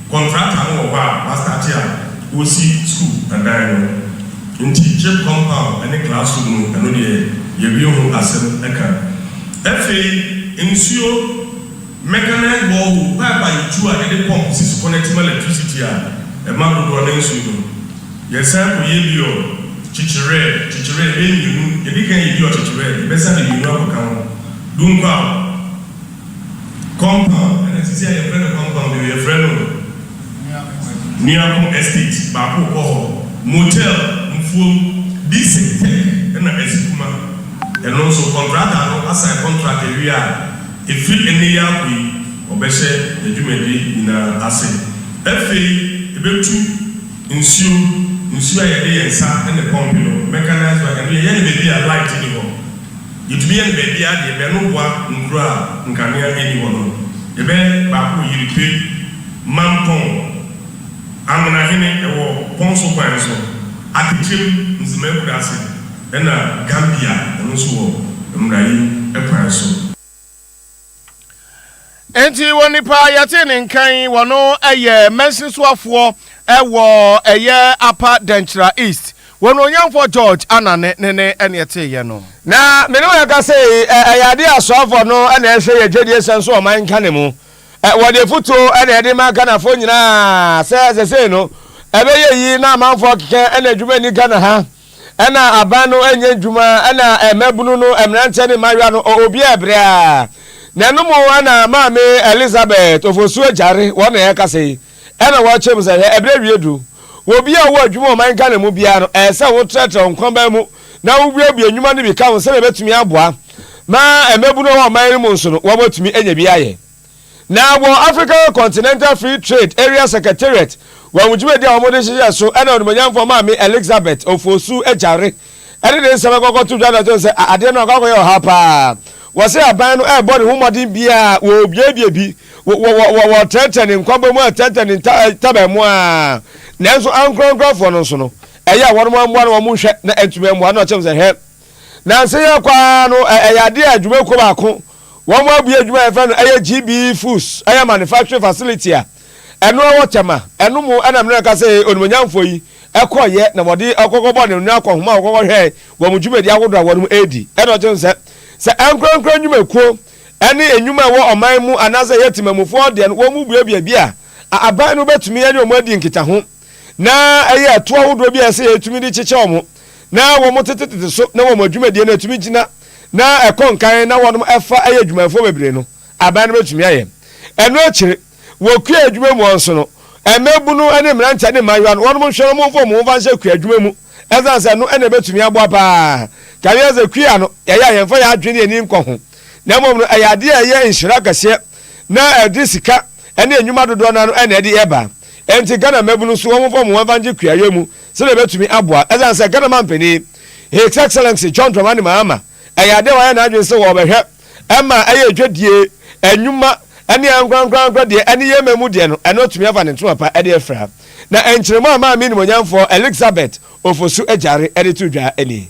kɔntrata no wɔ hɔ a wɔastate a wɔresi sukuu adan no. Nti Chip Compound ne Classroom no, ɛno deɛ yɛawie ho asɛm ka. Afei nsuo, Mechanized Borehole, pipe a yɛtu a yɛde pump si supɔ no atim electricity a ɛma dodoɔ no nsuo no. Yɛsan kɔyɛ Biɔ kyekyerɛɛ, kyekyerɛɛ, bɛyɛ mmienu, yɛdi kan yɛ Biɔ kyekyerɛɛ, yɛbɛsan de mmienu akɔka ho, Dunkwaw compound ɛna seesei a yɛmfrɛ no compound bio, yɛfrɛ no Nuako Estate, baako wɔ hɔ, Motel, Mfuom, Dixon Tech ɛna Asikuma, ɛno nso kɔntrata no asan kɔntrat awie a, ɛfiri ɛnnɛ yi akɔ yi, wɔbɛhyɛ yɛn dwumadi nyinaa ase. Afei yɛbɛtu. Nsuo, nsuo a yɛde yɛn nsa na ɛpɔmpe no, mechanised one, ɛno yɛyɛ no baabi a light nni hɔ. Yɛtumi yɛ no baabiara deɛ bɛn no boa nkuro a nkanea nni hɔ no. Yɛbɛyɛ baako wɔ Yiripe, Mampong, Anwenahene, ɛwɔ Pɔnso kwan no so, Atekyem, Nzema akuraase, ɛna Gambia, ɛno nso wɔ Mmuraim kwan so. Enti wɔ nipa a yɛtee ne nka yi, wɔn yɛ mɛnsin soafoɔ wɔ ɛyɛ apa dɛnkyira east wɔn onyanfoɔ george anane ne ne ɛne ɛtee yɛ no. na me ne wɔn ɛkasa yi ɛyɛ adeɛ a soafoɔ no na ɛhwɛ yɛ dwadie sɛn so ɔman nka ne mu wɔde afutuo na ɛde ma ghanafoɔ nyinaa sɛ sɛsei no ɛbɛyɛ yi na amanfoɔ keka ɛna adwuma nni ghana ha. Ɛna aban no nyɛ ndwuma ɛna mmabunu no mmeranteɛ ne mmayewa no ɔ obiara ɛbrɛ a na ɛno mo ɛna maame Elizabeth Ofosu Agyare wɔn na ɛkasa yi ɛna wɔkyerɛ mu sɛ hwɛ ɛbrɛ awie duru wɔ obiara ɔwɔ adwuma ɔman Ghana mu biara no ɛsɛ wo trɛtrɛ wo nkɔnbaa mu na wo buebue ndwuma no bi ka ho sɛdeɛ ɛbɛtumi aboa ma mmabunu ɔwɔ ɔman no mu nso no wɔn atumi anya bi ayɛ. Na wɔ Africa Continental Free Trade Area Secretariat wɔn dwumadi a wɔde hyehyɛɛ so na Onimuonyamfoɔ Maame Elixabeth Ofosu-Adjare de ne nsɛm kɔkɔ to dwa na ɔtoo sɛ adeɛ no akɔ akɔyɛ ɔhaw pa ara. Wɔse aban no rebɔ ne ho mmɔden biara a wɔrebuebue bi, wɔretrɛtrɛ ne nkwabɔ mu, wɔretrɛtrɛ ne ntaban mu a, nanso ankorankorafoɔ no nso no ɛyɛ a wɔn ara mmoa no wɔn nhwɛ na antumi ammoa no na ɔkyerɛ mu sɛ hwɛ nansa yi ara kɔ ara no ɛyɛ adeɛ a adwumakuo baako Wɔabue adwuma a yɛfrɛ no ɛyɛ GB Foods ɛyɛ manufacturing facility a ɛno ɛwɔ Tema. Ɛno mu ɛna mene nka sɛ onimuonyamfoɔ yi ɛkɔeɛ na wɔde ɔkɔkɔbɔ ne nne akɔ homa a wɔkɔkɔhwɛɛ wɔn dwumadi ahodoɔ a wɔnom ɛredi. Ɛna ɔkyerɛ sɛ sɛ ankorankora nnwumakuo ɛne nnwuma a ɛwɔ ɔman mu anaasɛ ɛyɛ temamufoɔ deɛ no wɔn mu buebue bi a, a aban no bɛtumi ɛne wɔn adi nkitaho. Na ɛyɛ atuo ahodoɔ bi a ɛsɛ yɛtumi de kyekyɛ wɔn, na wɔn tetetete so, na wɔn adwumadie no ɛtumi gyina, na ɛkɔ nkan, na wɔnom ɛfa ɛyɛ adwumayɛfoɔ bebree no, aban no bɛtumi ayɛ. Ɛno akyire, wɔ kua adwuma mu hɔ nso no, mmabunu ne mmeranteɛ ne mmaayewa no, wɔnom nhwɛ no, wɔn mfa wɔn ho mfa nhyɛ kua adwuma mu, ɛsiane sɛ ɛno na ɛbɛtumi aboa pa ara. Ka hwɛ sɛ kua no, ɛyɛ a yɛmfa yɛn adwene ne yɛn ani nkɔ ho, na mmom no ɛyɛ adeɛ a ɛyɛ nhyira kɛseɛ, na ɛde sika, ɛne nnwuma dodoɔ no ara no na ɛde reba. Ɛnti Ghana mmabunu nso wɔmfa wɔn ho mfa ngye kuayɔ mu sɛdeɛ ɛbɛtumi aboa. Ɛsiane sɛ Ghana manpanin, His Excellency John Dramani Mahama, ɛyɛ adeɛ a wayɛ n'adwene sɛ ɔbɛhwɛ ma ɛyɛ dwadie, nnwuma ne ankorankorankora deɛ ɛne yɛn mmamu deɛ no, ɛno atumi afa ne ntoma pa de afira. Na nkyeremu a Maame Animuonyamfoɔ Elixabeth Ofosu Agyare de to dwa nie.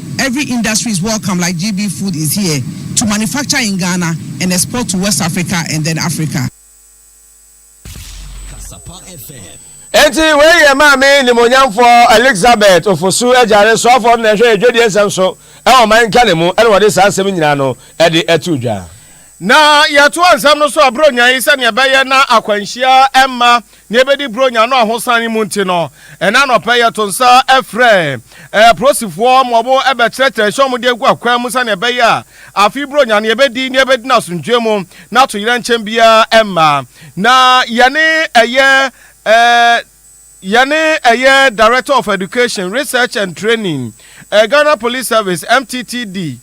Every industry is welcome like GB food is here to manufacture in Ghana and export to West Africa and then Africa. Enti wei yɛ maame nimonyamfoɔ Elizabeth Ofosu agyare soafoɔ no na ɛhwɛ yɛ dwadie nsɛm so ɛwɔ ɔman Ghana mu ɛna wɔde saa nsɛm nyinaa no ɛde ato dwa. Na yɛtoa nsɛm no so a, Buronya yi, sɛnea ɛbɛyɛ na akwanhyia mma nea ebedi Buronya no ahosan yi mu nti no, ɛnnɛ anɔpa yi yɛto nsa frɛ apolisifoɔ ma wɔbɛkyerɛkyerɛ nhyɛ wɔn de agu akwan mu sɛnea ɛbɛyɛ a afei Buronya no yɛbɛdi na yɛbɛdi no asomdwoe mu na atoyerɛnkyɛm biara mma. Na yɛne ɛyɛ eh, Yɛne ɛyɛ Director of Education, Research and Training, Ghana Police Service, MTTD,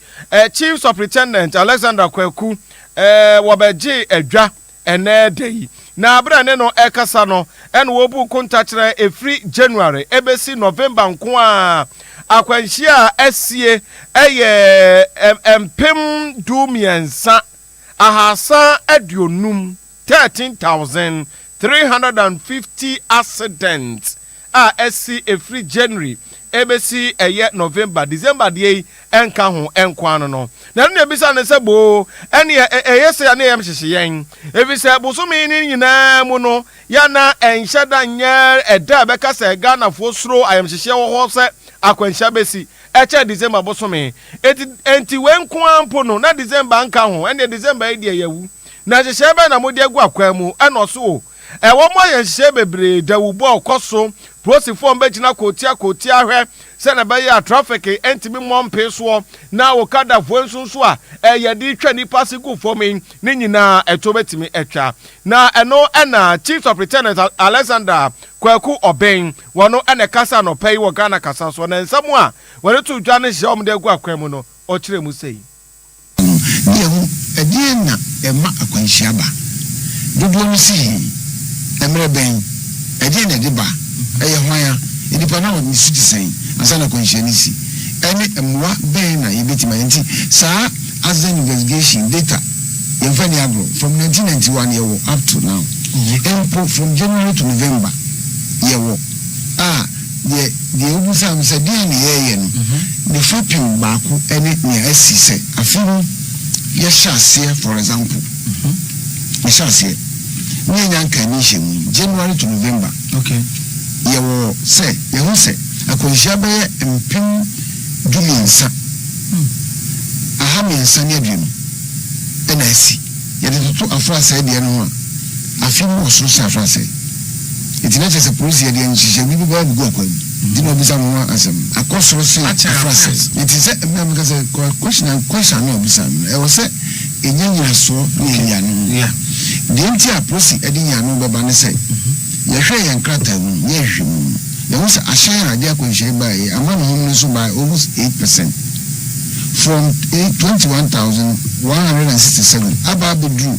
Chief Supritendent Alexander Kwaku wɔbɛgyee adwa ɛnnɛ da yi. Na berɛ a ɛne no ɛkasa no, ɛna wɔbu nkontakyerɛ ɛfiri January ɛbɛsi November nko a akwanhyia a asie ɛyɛ mpem du mmiɛnsa, ahasa aduonum. Thirteen thousand, three hundred and fifty accidents a asi ɛfiri January ɛbɛsi ɛyɛ November, December deɛ yi ɛnka ho nko ara no no. Na ɛno na ɛbisa no sɛ boo ɛneɛ ɛyɛ sɛ ɛne ɛyam hyehye yɛn ɛfiri sɛ bosome no nyinaa mu no yɛana ɛnhyɛ da nyɛ ɛda a ɛbɛka sɛ Ghanafoɔ suro ayamhyehyeɛ wɔ hɔ sɛ akwanhyia bɛsi ɛkyɛ December bosome. Ɛnti wei nko ara mpo no na December nka ho ɛneɛ December yi deɛ yɛawu. Na nhyehyɛe bɛn na mode agu akwan mu? Ɛna ɔso o. Ɛwɔ mo ayɛ nhyehyɛe bebree, dawubɔ a ɔkɔ so, polisifo a wɔbɛgyina kootia kootia ahwɛ sɛnea ɛbɛyɛ a traffic ntumi mmɔ mpee soɔ, na okadafoɔ nso nso a ɛyɛ de twa nnipa ase gu fam yi, ne nyinaa ɛtoɔ bɛtumi atwa. Na ɛno na Chief Superintendent Alexander Kwaku Obeng, wɔn na ɛkasa anɔpa yi wɔ Ghana Kasa so, na nsɛm a wɔde too dwa ne nhyehyɛe a wɔde agu akwan mu no, ɔkyerɛɛ mu sei. Mmom deɛ ho, ɛdeɛn na ɛma akwanhyia ba? Dodoɔ no si he? Mmerɛ bɛn? Ɛdeɛn na ɛde ba? Ɛyɛ hwan a? Nnipa no a ne su te sɛn ansa na akwanhyia no si? Ɛne mmoa bɛn na yɛbɛtim ayɛ? Nti saa Asden investigation data, yɛmfa nni agorɔ, from nineteen ninety one yɛwɔ up to now, mpo from January to November yɛwɔ a, Deɛ deɛ wobisaa me sɛ deɛn na yɛreyɛ no, ne fapem baako ne nea asi sɛ afe mu yɛhyɛ aseɛ for example yɛhyɛ aseɛ ne yɛnya nkaedi nhyiamu yi January to November yɛwɔ sɛ yɛho sɛ akwanhyia bɛyɛ mpem du mmiɛnsa aha mmiɛnsa ne aduonu na asi yɛde toto afrasɛe deɛ no ho a afe mu wɔ soro sɛ afrasɛe Enti na kyerɛ sɛ polisi yɛ deɛ nhyehyɛɛ bi bɛba abɛgu akwa yi nti na ɔbisa no ho asɛm no. Akɔ soro se afra sɛ. Enti sɛ mmrɛ a meka sɛ question and question ano a ɔbisa no no ɛwɔ sɛ ɛnya nyinasoɔ ne ɛyi ano ho. Deɛ nti a polisi ɛde yi ano bɛba ne sɛ yɛ hwɛɛ yɛn krataa mu ne yɛ hwehwɛ mu no yɛ hu sɛ ahyɛn a ɛde akwanhyia yi baeɛ yi ama ne home no so by almost eight percent from twenty one thousand one hundred and sixty seven aba abɛduru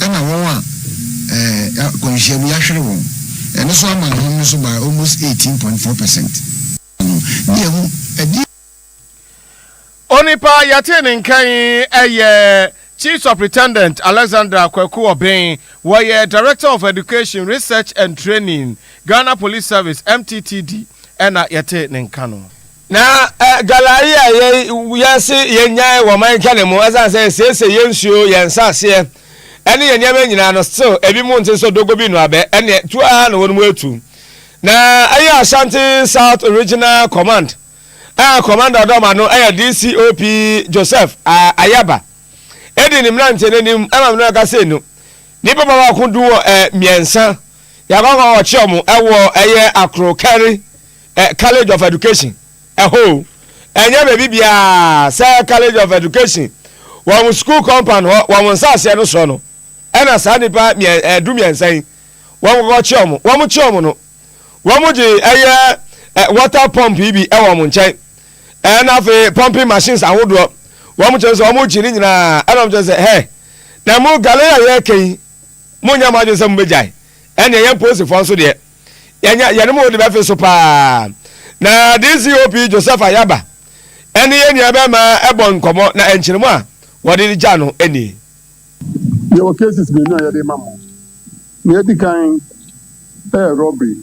Ɛna wɔn a akwanhyiam yi ahwere wɔn ɛno so ama ahom no so by almost eighteen point four percent no ne ɛho ɛdeɛ. Onipa yɛtee ne nka yi yɛ Chief Superintendent Alexander Kwaku Obeng, wɔyɛ Director of Education, Research and Training, Ghana Police Service, MTTD, ɛna yɛtee ne nka no. Na galari a yɛse yɛnyae wɔ ɔman Ghana mu ɛsan sɛ yɛsiesie yɛn nsuo, yɛn nsaseɛ ɛne yɛn nneɛma nyinaa no still ebi mu nte sɛ dogo bi noabɛ ɛneɛ tu ara na wɔn mu atu. Na ɛyɛ Ashanti South Regional Command a Commander Ɔdɔma no ɛyɛ DCOP Joseph Ayaba ɛdi ne mmeranteɛ no anim ɛma mene ɔka sei no nipa ba baako du wɔ ɛ mmiɛnsa yɛakɔkɔ ɔkye wɔn ɛwɔ ɛyɛ Akrokari Ɛ college of education ɛhɔ o ɛnyɛ baabi biaa sɛ college of education wɔn school compound hɔ wɔn nsaaseɛ no soɔ no ɛna saa nipa miɛ ɛ du miɛnsa yi wɔn kɔkɔ kye wɔn wɔn kye wɔn no wɔn gye ɛyɛ ɛ water pump yi bi ɛwɔ wɔn nkyɛn ɛna afei pumping machines ahodoɔ wɔn kyerɛ sɛ wɔn gye ne nyinaa ɛna wɔn kyerɛ sɛ hɛ na mo galera yɛ kɛyi mo nyɛ mo adwene sɛ mo bɛ gyae ɛna ɛyɛ mpoosifoɔ nso deɛ. yɛanya yɛn mu de bɛfe so paa. Na DCOP Joseph Ayaba ne yɛn nuabarima bɔ nkɔmmɔ, na nkyerɛmu a wɔde regya no nie. Yɛwɔ cases mmienu a yɛde rema mo. Nea edi kan yɛ robbery.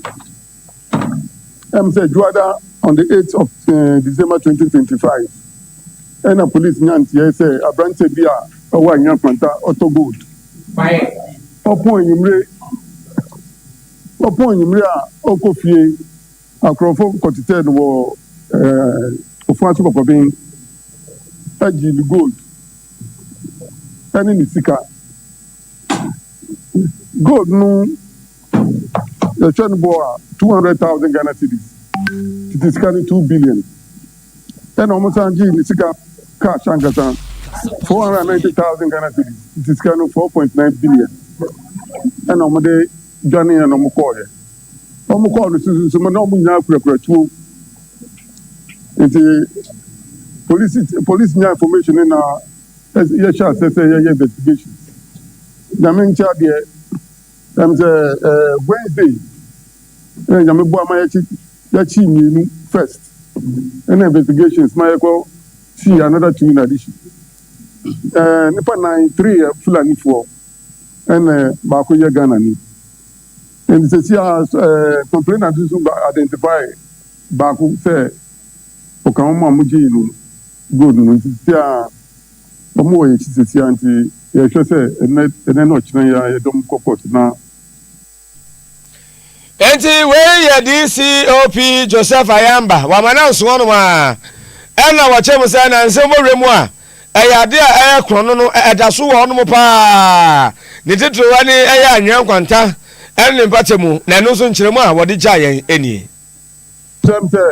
Ɛm sɛ Dwoada on the 8th of eh, December 2025 ɛna police nya nteɛe sɛ aberanteɛ bi a ɔwɔ Anhwea Kwanta ɔtɔ gold. Quiet. Ɔpɔn enyimire Ɔpɔn enyimire a ɔkɔ fie Akorɔmfo kɔtsetsɛɛ no wɔ ɔfon ase kɔkɔben Gyee ne gold ne ne sika Gold no yɛhwɛ no bɔɔ a two hundred thousand Ghana cedis Tsetse sika no two billion. Ɛna ɔmo san gyee ne sika cash ankasa, four hundred and ninety thousand Ghana cedis, nti sika no four point nine billion ɛna ɔmo de dwanee ɛna ɔmo kɔɔɛ. Ɔmo kɔɔ no sususu mu na ɔmo nyinaa kurakura tuo, nti polisi polisi nyaa information no na yɛhyɛ asɛ sɛ yɛyɛ investigation. Nyame nkyɛ adeɛ. Ɛnam sɛ ɛɛ Wednesday ɛna Nyame boa ma yɛkyi yɛkyi mmienu first ɛna investigations ma yɛkɔ see another two in addition. Ɛɛ nipa nan three yɛ Fulanifoɔ ɛna baako yɛ Ghana ni. Ɛnti sɛsi a ɛɛ complainant nso ba identify baako sɛ. Ɔka hɔn a mogyee no gold no ntsi tsitsi ara a, wɔwɔ hɛn ekyir tsitsii ara ntsi, yɛhwɛ sɛ ndɛ na ɔkyena yi ara yɛdɔm kɔ kɔɔt na. Ntsi wei yɛ DCOP Joseph Ayamba, wɔama no anso hɔnom ara na wɔkyerɛ mu sɛ na nsɛm bɔ wura mu a ɛyɛ ade a ɛyɛ krɔnn no da so wɔ hɔnom paa, ne titiriw ne ɛyɛ anwea nkwanta ne ne mpata mu, na ɛno nso nkyerɛmu a wɔde gyaa yɛn nie. Kyerɛm sɛ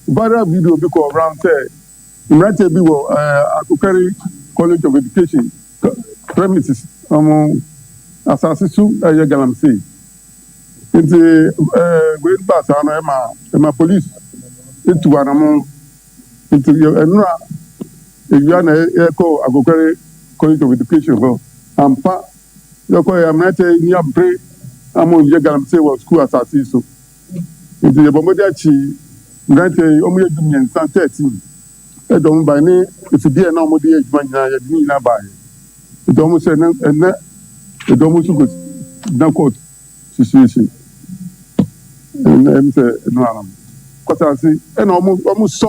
viral video bi kɔɔ around sɛ mmeranteɛ bi wɔ Akokari College of Education premises wɔn asaase su yɛ galamsey nti wei baa saa no ɛma ɛma police tu anamon nti ɛnora ewia na ɛkɔ Akokari College of Education hɔ ampa yɛkɔ yɛ mmeranteɛ ni abere ama wɔn yɛ galamsey wɔ school asaase yi so. Ntsi yɛbɔ mbɔdzen akye mberantsɛ yi, wɔyɛ dumiɛnsa, thirteen, dɛ wɔmbae, ne efidzi a nna wɔdze yɛ edwuma nyina, yɛdze ne nyina bae. Ntsi wɔhyɛɛ dɛ ndɛ dɔm so kɔgyina kɔɔt seseiese. Nna emi sɛ eno ara no, mokɔtse ase na wɔsɔ.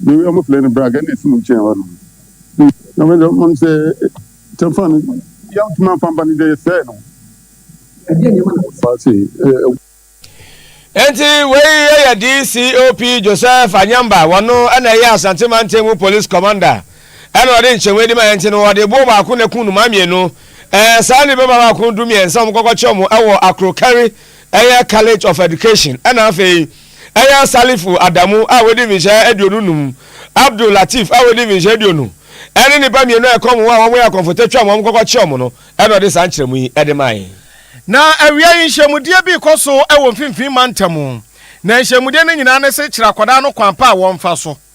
ne wi ɔmo fle no brag ɛna esi mo nkyɛn hɔ nom na ɔmo deɛ ɔmo sɛ tɛnfa no yam tuma nfa mba no deɛ yɛsɛɛ no ɛdeɛ nneɛma na ɔfa ase ɛɛ. Enti wei yɛ DCOP Joseph Anyamba, wɔno na ɛyɛ Asante Mantamu Police Commander na ɔde nkyerɛmu yi de mae nti no wɔde boɔ baako na ɛku nnomaa mmienu ɛɛ saa nnipa baako du mmiɛnsa a wɔkɔkɔkyɛ wɔn ɛwɔ Akrokari ɛyɛ College of Education ɛna afei Ayan Salifu Adamu a wadi mfinhyia aduonu nnum, Abdul Latif a wadi mfinhyia aduonu, ɛne nnipa mmienu a ɛkɔm ho a wɔyɛ akɔmfotɛ twam wɔn kɔkɔ kye wɔn no na ɔde saa nkyerɛmu yi de mae. Na awia yi nhyiamudeɛ bi rekɔ so wɔ Mfimfini Mantam mu, na nhyiamudeɛ no nyinaa ne se kyerɛ akwadaa no kwan pa a wɔmfa so.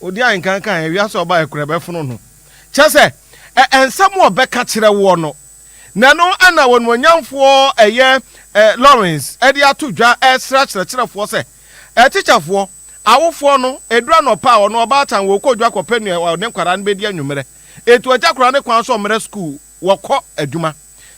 Odi ahenkan kan ɛ, wiase ɔba ɛkorɛ bɛfono no. Kyerɛ sɛ, ɛ ɛnsɛm wɔ bɛka kyerɛ woɔ no. Na ɛno ɛna wɔnuonyamfoɔ ɛyɛ ɛ Lawrence ɛde ato dwa ɛresrɛ akyerɛkyerɛfoɔ sɛ, ɛ tikyafoɔ, awofoɔ no, ɛduru anɔpa a ɔno ɔbaatan wɔ ɔkɔ dwa kɔpɛ nea ɔne nkwadaa no bɛdi anwummerɛ. Ɛtu agya akwadaa no kwan sɛ ɔmmra sukuu. wɔkɔ adwuma.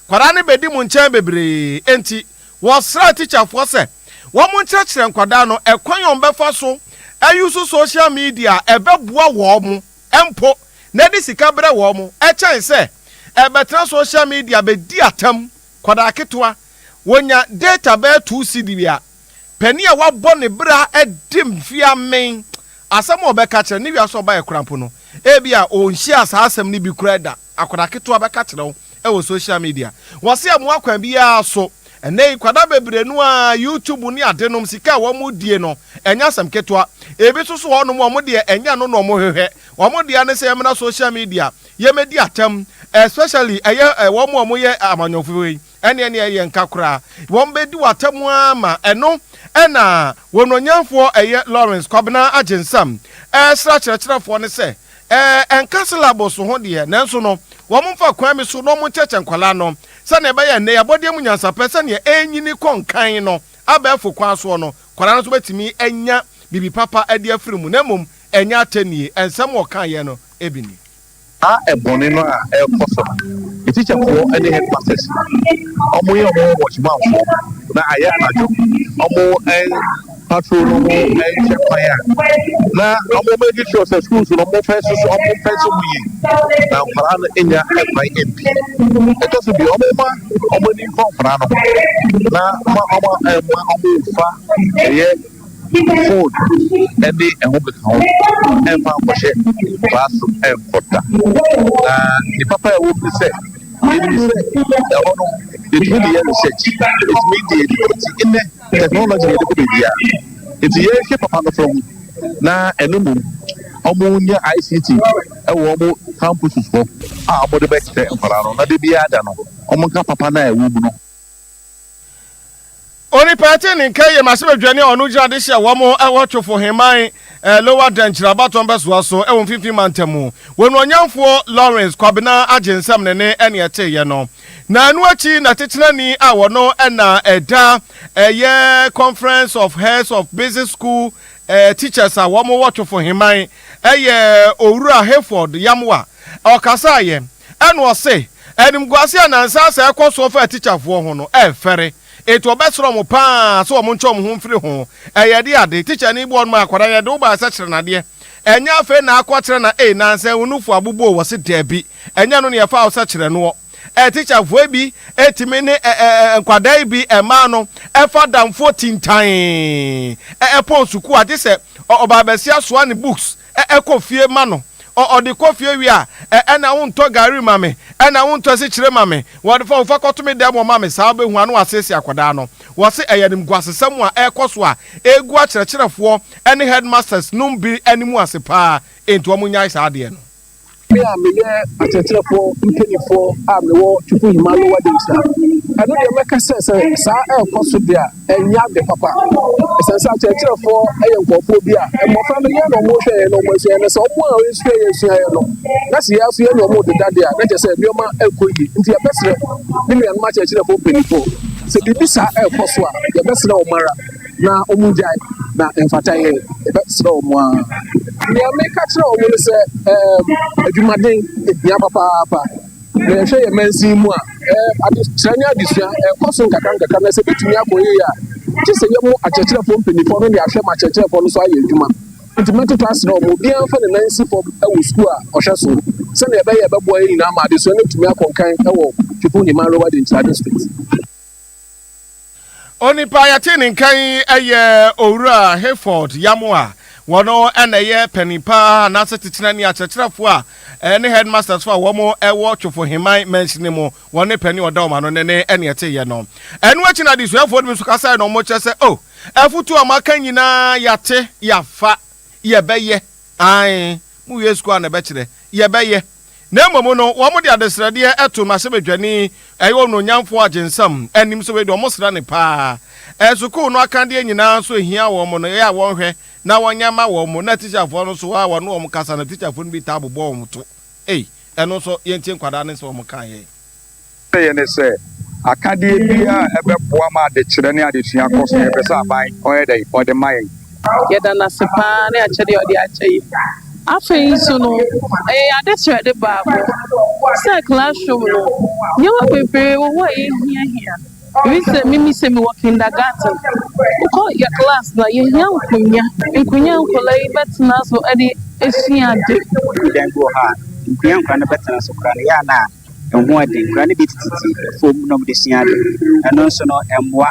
Nkwadaa no bɛdi mo nkyɛn bebree, enti wɔsrɛɛ tikyafoɔ sɛ wɔnkyerɛkyerɛ nkwadaa no ɛkwan a wɔbɛfa so ayusu sohyial media a ɛbɛboa wɔn mpo na ɛde sika brɛ wɔn kyɛn sɛ ɛbɛtena sohyial media bɛdi atam. Nkwadaa ketewa, wɔnya data bɛyɛ two cedi bi a, panin a wabɔ ne bra adi mfeɛ amen, asɛm a ɔbɛka kyerɛ ne wiase ɔba yɛ koraa mpo no, ebia ɔnhyiaa saa asɛm no bi koraa da. Akwadaa ketewa bɛka kyerɛ wo wɔ social media wɔse ɛmoa kwan biara so ɛnɛ yi kwadaa bebree no ara YouTube ne ade nom sika a wɔn die no ɛnyɛ asɛm ketewa ebi nso so hɔ nom wɔn deɛ ɛnyɛ ɛno na wɔn hwehwɛ wɔn deɛ ne sɛ yɛmena social media yɛmɛdi atɛm especially ɛyɛ wɔn a wɔyɛ amanyɔfoɔ yi Ɛneɛ neɛ ɛyɛ nka koraa wɔn bɛdi wo atamu ara ma ɛno na wɔnuonyamfoɔ ɛyɛ Lawrence Kwabena Agyensam ɛresra akyerɛkyerɛfoɔ no sɛ ɛɛ ɛnka syllabus ho deɛ nanso no wɔn mfa kwan bi so na wɔn nkyɛkyɛ nkwadaa no sɛdeɛ ɛbɛyɛ nnɛ yɛabɔdeɛ mu nyansapɛ sɛdeɛ ɛrenyini kɔ nkan no abɛɛfo kwan soɔ no nkwadaa no nso bɛtumi anya biribi papa adi afiri mu na mmom ɛnyɛ atɛnnie ɛnsɛm ɔkaeɛ no bi ni. Saa bɔne no a ɛrekɔ so no, me tikyafoɔ ne headmasters wɔyɛ wɔn ho watchmanfoɔ na ayɛ anadwo wɔn patrol no ho nkyɛ kwan a na wɔn make sure sɛ schools no wɔn fɛn so wɔn fɛn so mu yie na nkwadaa no nya kwan mpi ɛtɔ so bi wɔn ma wɔn ani nkɔ nkwadaa no ho na wɔn wɔn ma wɔn fa ɛyɛ. Food ɛne ɛho keka ho ɛmfa nkɔhyɛ baa so ɛnkɔ da. Na ne papa ɛwɔ mu sɛ ɛfiri sɛ ɛhɔ no yɛtumi de yɛ research, ɛtumi de yɛ nipa ti nnɛ technology yɛde kɔ baabiara nti yɛhwɛ papa no fam na ɛno mmom wɔn nya ICT ɛwɔ wɔn campuses hɔ a wɔde bɛkyerɛ nkwadaa no na de biara da no wɔn nka papa no a ɛwɔ mu no. Onipa te ne nka yie ma sɛ bɛdwane a ɔno gyina de hyɛ wɔn ho ɛwɔ Twofo Heman eh, Lower Denkyira Abatɔn bɛsoa so ɛwɔ mfimfini mantam mu. Wɔn ɔnyamfoɔ Lawrence Kwabena agye nsɛm ne ne ɛne ɛteeɛ no. Na ɛno akyi na tetenani a wɔno ɛna ɛda ɛyɛ Conference of Heads of Business School eh, Teachers a wɔn wɔ Twofo Heman ɛyɛ Owura Hayford Yamwa ɔkasaeɛ. Ɛna ɔse, Animguase a nnansa asɛ ɛkɔ soɔ fa atikyafoɔ ho no, ɛrefɛre. Enti wɔbɛsrɛ wɔn pa ara sɛ wɔntwe wɔn ho mfiri ho. Ɛyɛ ɛdeɛ ade, tikyani bɔ no ma akwadaa no, Yɛde wo baeɛ sɛ kyerɛnadeɛ. Ɛnyɛ afei na akɔ akyerɛ na ei, nnansa yi wo nufoɔ aboboo? Ɔse, Dabi, ɛnyɛ ɛno na yɛfaa wo sɛ kyerɛ noɔ. Ɛ, tikyafoɔ yi bi tumi ne ɛ, ɛ, ɛ, nkwadaa yi bi mmaa no fa adamfoɔ tintan ɛ, ɛ, pɔn sukuu a, gye sɛ ɔ, ɔbaa basia soa ne books. kɔ fie ma no. Ɔde kɔ fie wie a, ɛna wontɔ gari ma me, ɛna wontɔ asikyire ma me, wɔfa wofa kɔto me dan mu ɔma me, saa wobɛhu a na wɔasiesie akwadaa no. Wɔse ɛyɛ animguasesɛm a ɛrekɔ so a ɛregu akyerɛkyerɛfoɔ ne headmasters nom bi anim ase paa, enti wɔnyae saa adeɛ no. Me a meyɛ akyerɛkyerɛfoɔ mpaninfoɔ a mewɔ Twupuhima Lower Demsina, ɛno deɛ mɛka sɛ sɛ saa ɛrekɔ so deɛ a, ɛnyɛ ade papa. Ɛsiane sɛ akyerɛkyerɛfoɔ yɛ nkurɔfoɔ bi a mmɔfra no yɛn na wɔhwɛ yɛn na wɔasua yɛn, na sɛ wɔn a wɔasua yɛn sua yɛn no, na sɛ yɛn nso yɛne wɔn rededa deɛ a, na kyerɛ sɛ nneɛma nkɔ yie. Nti yɛbɛsrɛ me nuanom akyerɛkyerɛfoɔ mpaninfoɔ, sɛ biribi saa ɛrekɔ so a, yɛbɛsrɛ wɔn ara. na wɔn gyae na mfata yɛ ɛbɛsrɛ wɔn ara nea meka kyerɛ wɔn no sɛ ɛɛm adwumaden ehia papaapa na yɛhwɛ yɛn mansin mu a ɛɛ adekyerɛ ne adesua ɛkɔ so nkakra nkakra na sɛ ebetumi akɔ yie a gye sɛ yɛn mo akyerɛkyerɛfoɔ mpanyinfoɔ no de ahwɛ ma akyerɛkyerɛfoɔ no so ayɛ adwuma nti mɛtoto asrɛ wɔn obiara mfa ne nan si fam wɔ sukuu a ɔhwɛ so sɛdeɛ ɛbɛyɛ a ɛbɛboa yɛn nyinaa ma adesua no atumi akɔ nkan wɔ Kifo Heman Rural Denkyira District. Onipa a yɛte ne nka yi yɛ Owura Hayford Yamoah. Wɔno na ɛyɛ panin pa ara anaase titenani akyerɛkyerɛfoɔ a ɛne headmasters foɔ a wɔn wɔ Twofoheman mansini mu. Wɔne panin a ɔda wɔn ano no ne ɛne ɛteeɛ no. Ɛno akyi no adesuafoɔ no bi nso kasaeɛ na wɔkyerɛ sɛ oh afutuo a moaka nyinaa yɛate, yɛafa, yɛbɛyɛ. Ae, mowie sukuu a na ɛbɛkyerɛ, yɛbɛyɛ. Na mmom no, wɔde adesrɛdeɛ to mmarahyɛbadwani, ɛyɛ onuonyamfoɔ agyensam, anim sɛ wei deɛ wɔsrɛ no pa ara. Sukuu no akadeɛ nyinaa nso ɛhia wɔn no, ɛyɛ a wɔhwɛ na wɔnya ma wɔn. Na tikyafoɔ no nso a wɔne wɔn kasa no, tikyafoɔ no bi taa bobɔ wɔn to. Ei, ɛno nso yɛntie nkwadaa no nsɛm a wɔka yɛn. Ɔsɛeɛ ne sɛ, akadeɛ biara a ɛbɛboa ma adekyerɛ ne adesua kɔ so no, yɛpɛ sɛ aban ɔyɛ dɛn? Ɔde ma yɛn. Yɛda no ase paa ne akyɛdeɛ a ɔde akyɛ yɛn. Afei nso no, ɛyɛ yɛn adesrɛde baako sɛ classroom no, nneɛma bebree wɔ hɔ a yɛhiahia. Ebi sɛ, mimi sɛ mewɔ kindergarten, wokɔ yɛn class no a, yɛhia nkonnwa. Nkonnwa a nkwadaa yi bɛtena so de asua ade. Ɛduru dan bi wɔ hɔ a, nkonnwa a nkwadaa no bɛtena so koraa no, ɛyɛ a na Ɛho yɛ den. Nkwadaa no bi tetete fam na wɔde sua ade. Ɛno nso no, ɛmmoa.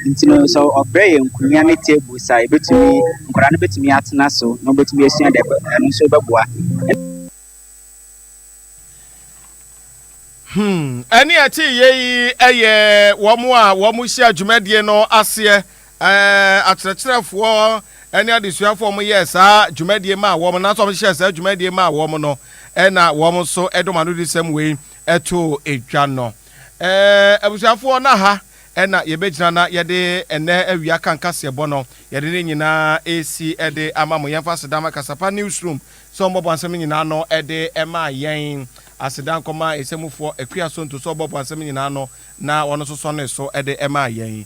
Nti no, sɛ wɔbrɛ yɛn nkonnwa ne tables a, yɛbɛtumi, nkwadaa no bɛtumi atena so na wɔbɛtumi asua ade. Ɛbɛ, ɛno nso bɛboa. Hmm, ɛne ɛte yei yɛ wɔn a wɔhyia dwumadie no aseɛ Ɛɛ, akyerɛkyerɛfoɔ ne adesuafoɔ a wɔyɛɛ saa dwumadie maa wɔn, anaasɛ wɔhyehyɛɛ saa dwumadie maa wɔn no, ɛna wɔn nso de wɔn anodisɛm wei too dwa no. Ɛɛ, abusuafoɔ, na ha na yɛbɛgyina na yɛde ɛnɛ awia kan kaseɛbɔ no, yɛde ne nyinaa resi de ama mo. Yɛmfa aseda ma Kasapa Newsroom sɛ wɔbɔbɔ nsɛm no nyinaa no de maa yɛn. Aseda nkɔma Ɛsɛmufoɔ Akua Sonto sɛ wɔbɔbɔ nsɛm no nyinaa no na wɔn nso sɔnee so de maa yɛn.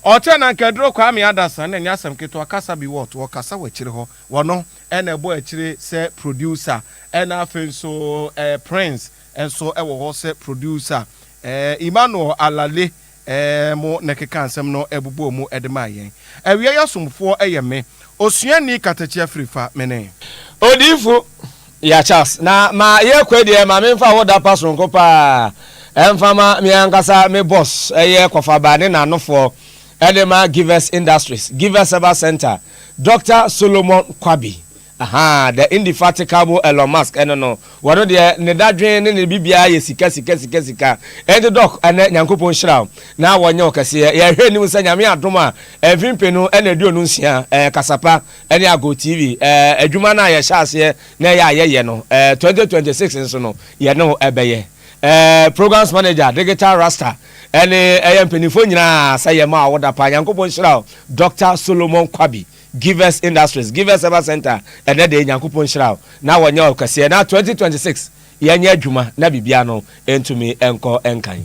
Ɔkyɛ na anka aduro Kwame Adasa na ɛnyɛ asɛm ketewa kasa bi wɔt wɔkasa wɔ akyire hɔ. Wɔno na ɛbɔ akyire sɛ producer ɛna afei nso ɛɛ Prince nso wɔ hɔ sɛ producer. Ɛɛ Emmanuel Alale ɛɛ mo na ɛkekaa nsɛm no bobɔɔ mu de maa yɛn. Awiei asomfoɔ yɛ me. Osuani Katakyi Afirifa, mene. Odiyifo Ya Charles, na ma yɛkɔ deɛ ma menfa wo dapa soronko paa mfama me ankasa me boss yɛ kɔfaba ne nanofoɔ de ma Givers Industries, Givers Herbal Centre, Doctor Solomon Kwabi, ahaa, the indefatigable Elon Musk ɛno no, wɔno deɛ ne dadwen ne ne biribiara yɛ sika sika sika sika, enti Doc ɛnɛ Nyankopɔn nhyira wo na wɔnyɛ wo kɛseɛ, yɛhwɛ anim sɛ Nyame adom a mfe mpenu na aduonu nsia, ɛɛ kasapa. ɛne Ago TV ɛɛ adwuma no a yɛhyɛ aseɛ na ɛyɛ a yɛyɛ no ɛɛ 2026 nso no yɛne wo ɛbɛyɛ ɛɛ programs manager digital rasta ɛne ɛyɛ mpanimfoɔ nyinaa sɛ yɛ ma wo da paa nyankopɔn nhyira wo Doctor Solomon Kwabi Givers Industries Givers Ever Center ɛnɛ deɛ nyankopɔn nhyira wo na wɔnyɛ wo kɛseɛ na 2026 yɛnyɛ adwuma na biribiara no ɛntumi ɛnkɔ ɛnkan.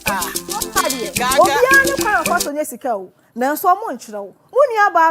Ah, obiara ne kwan a ɔfa so nya sika o, nanso wɔnkyerɛ wo. Mo nuabaa.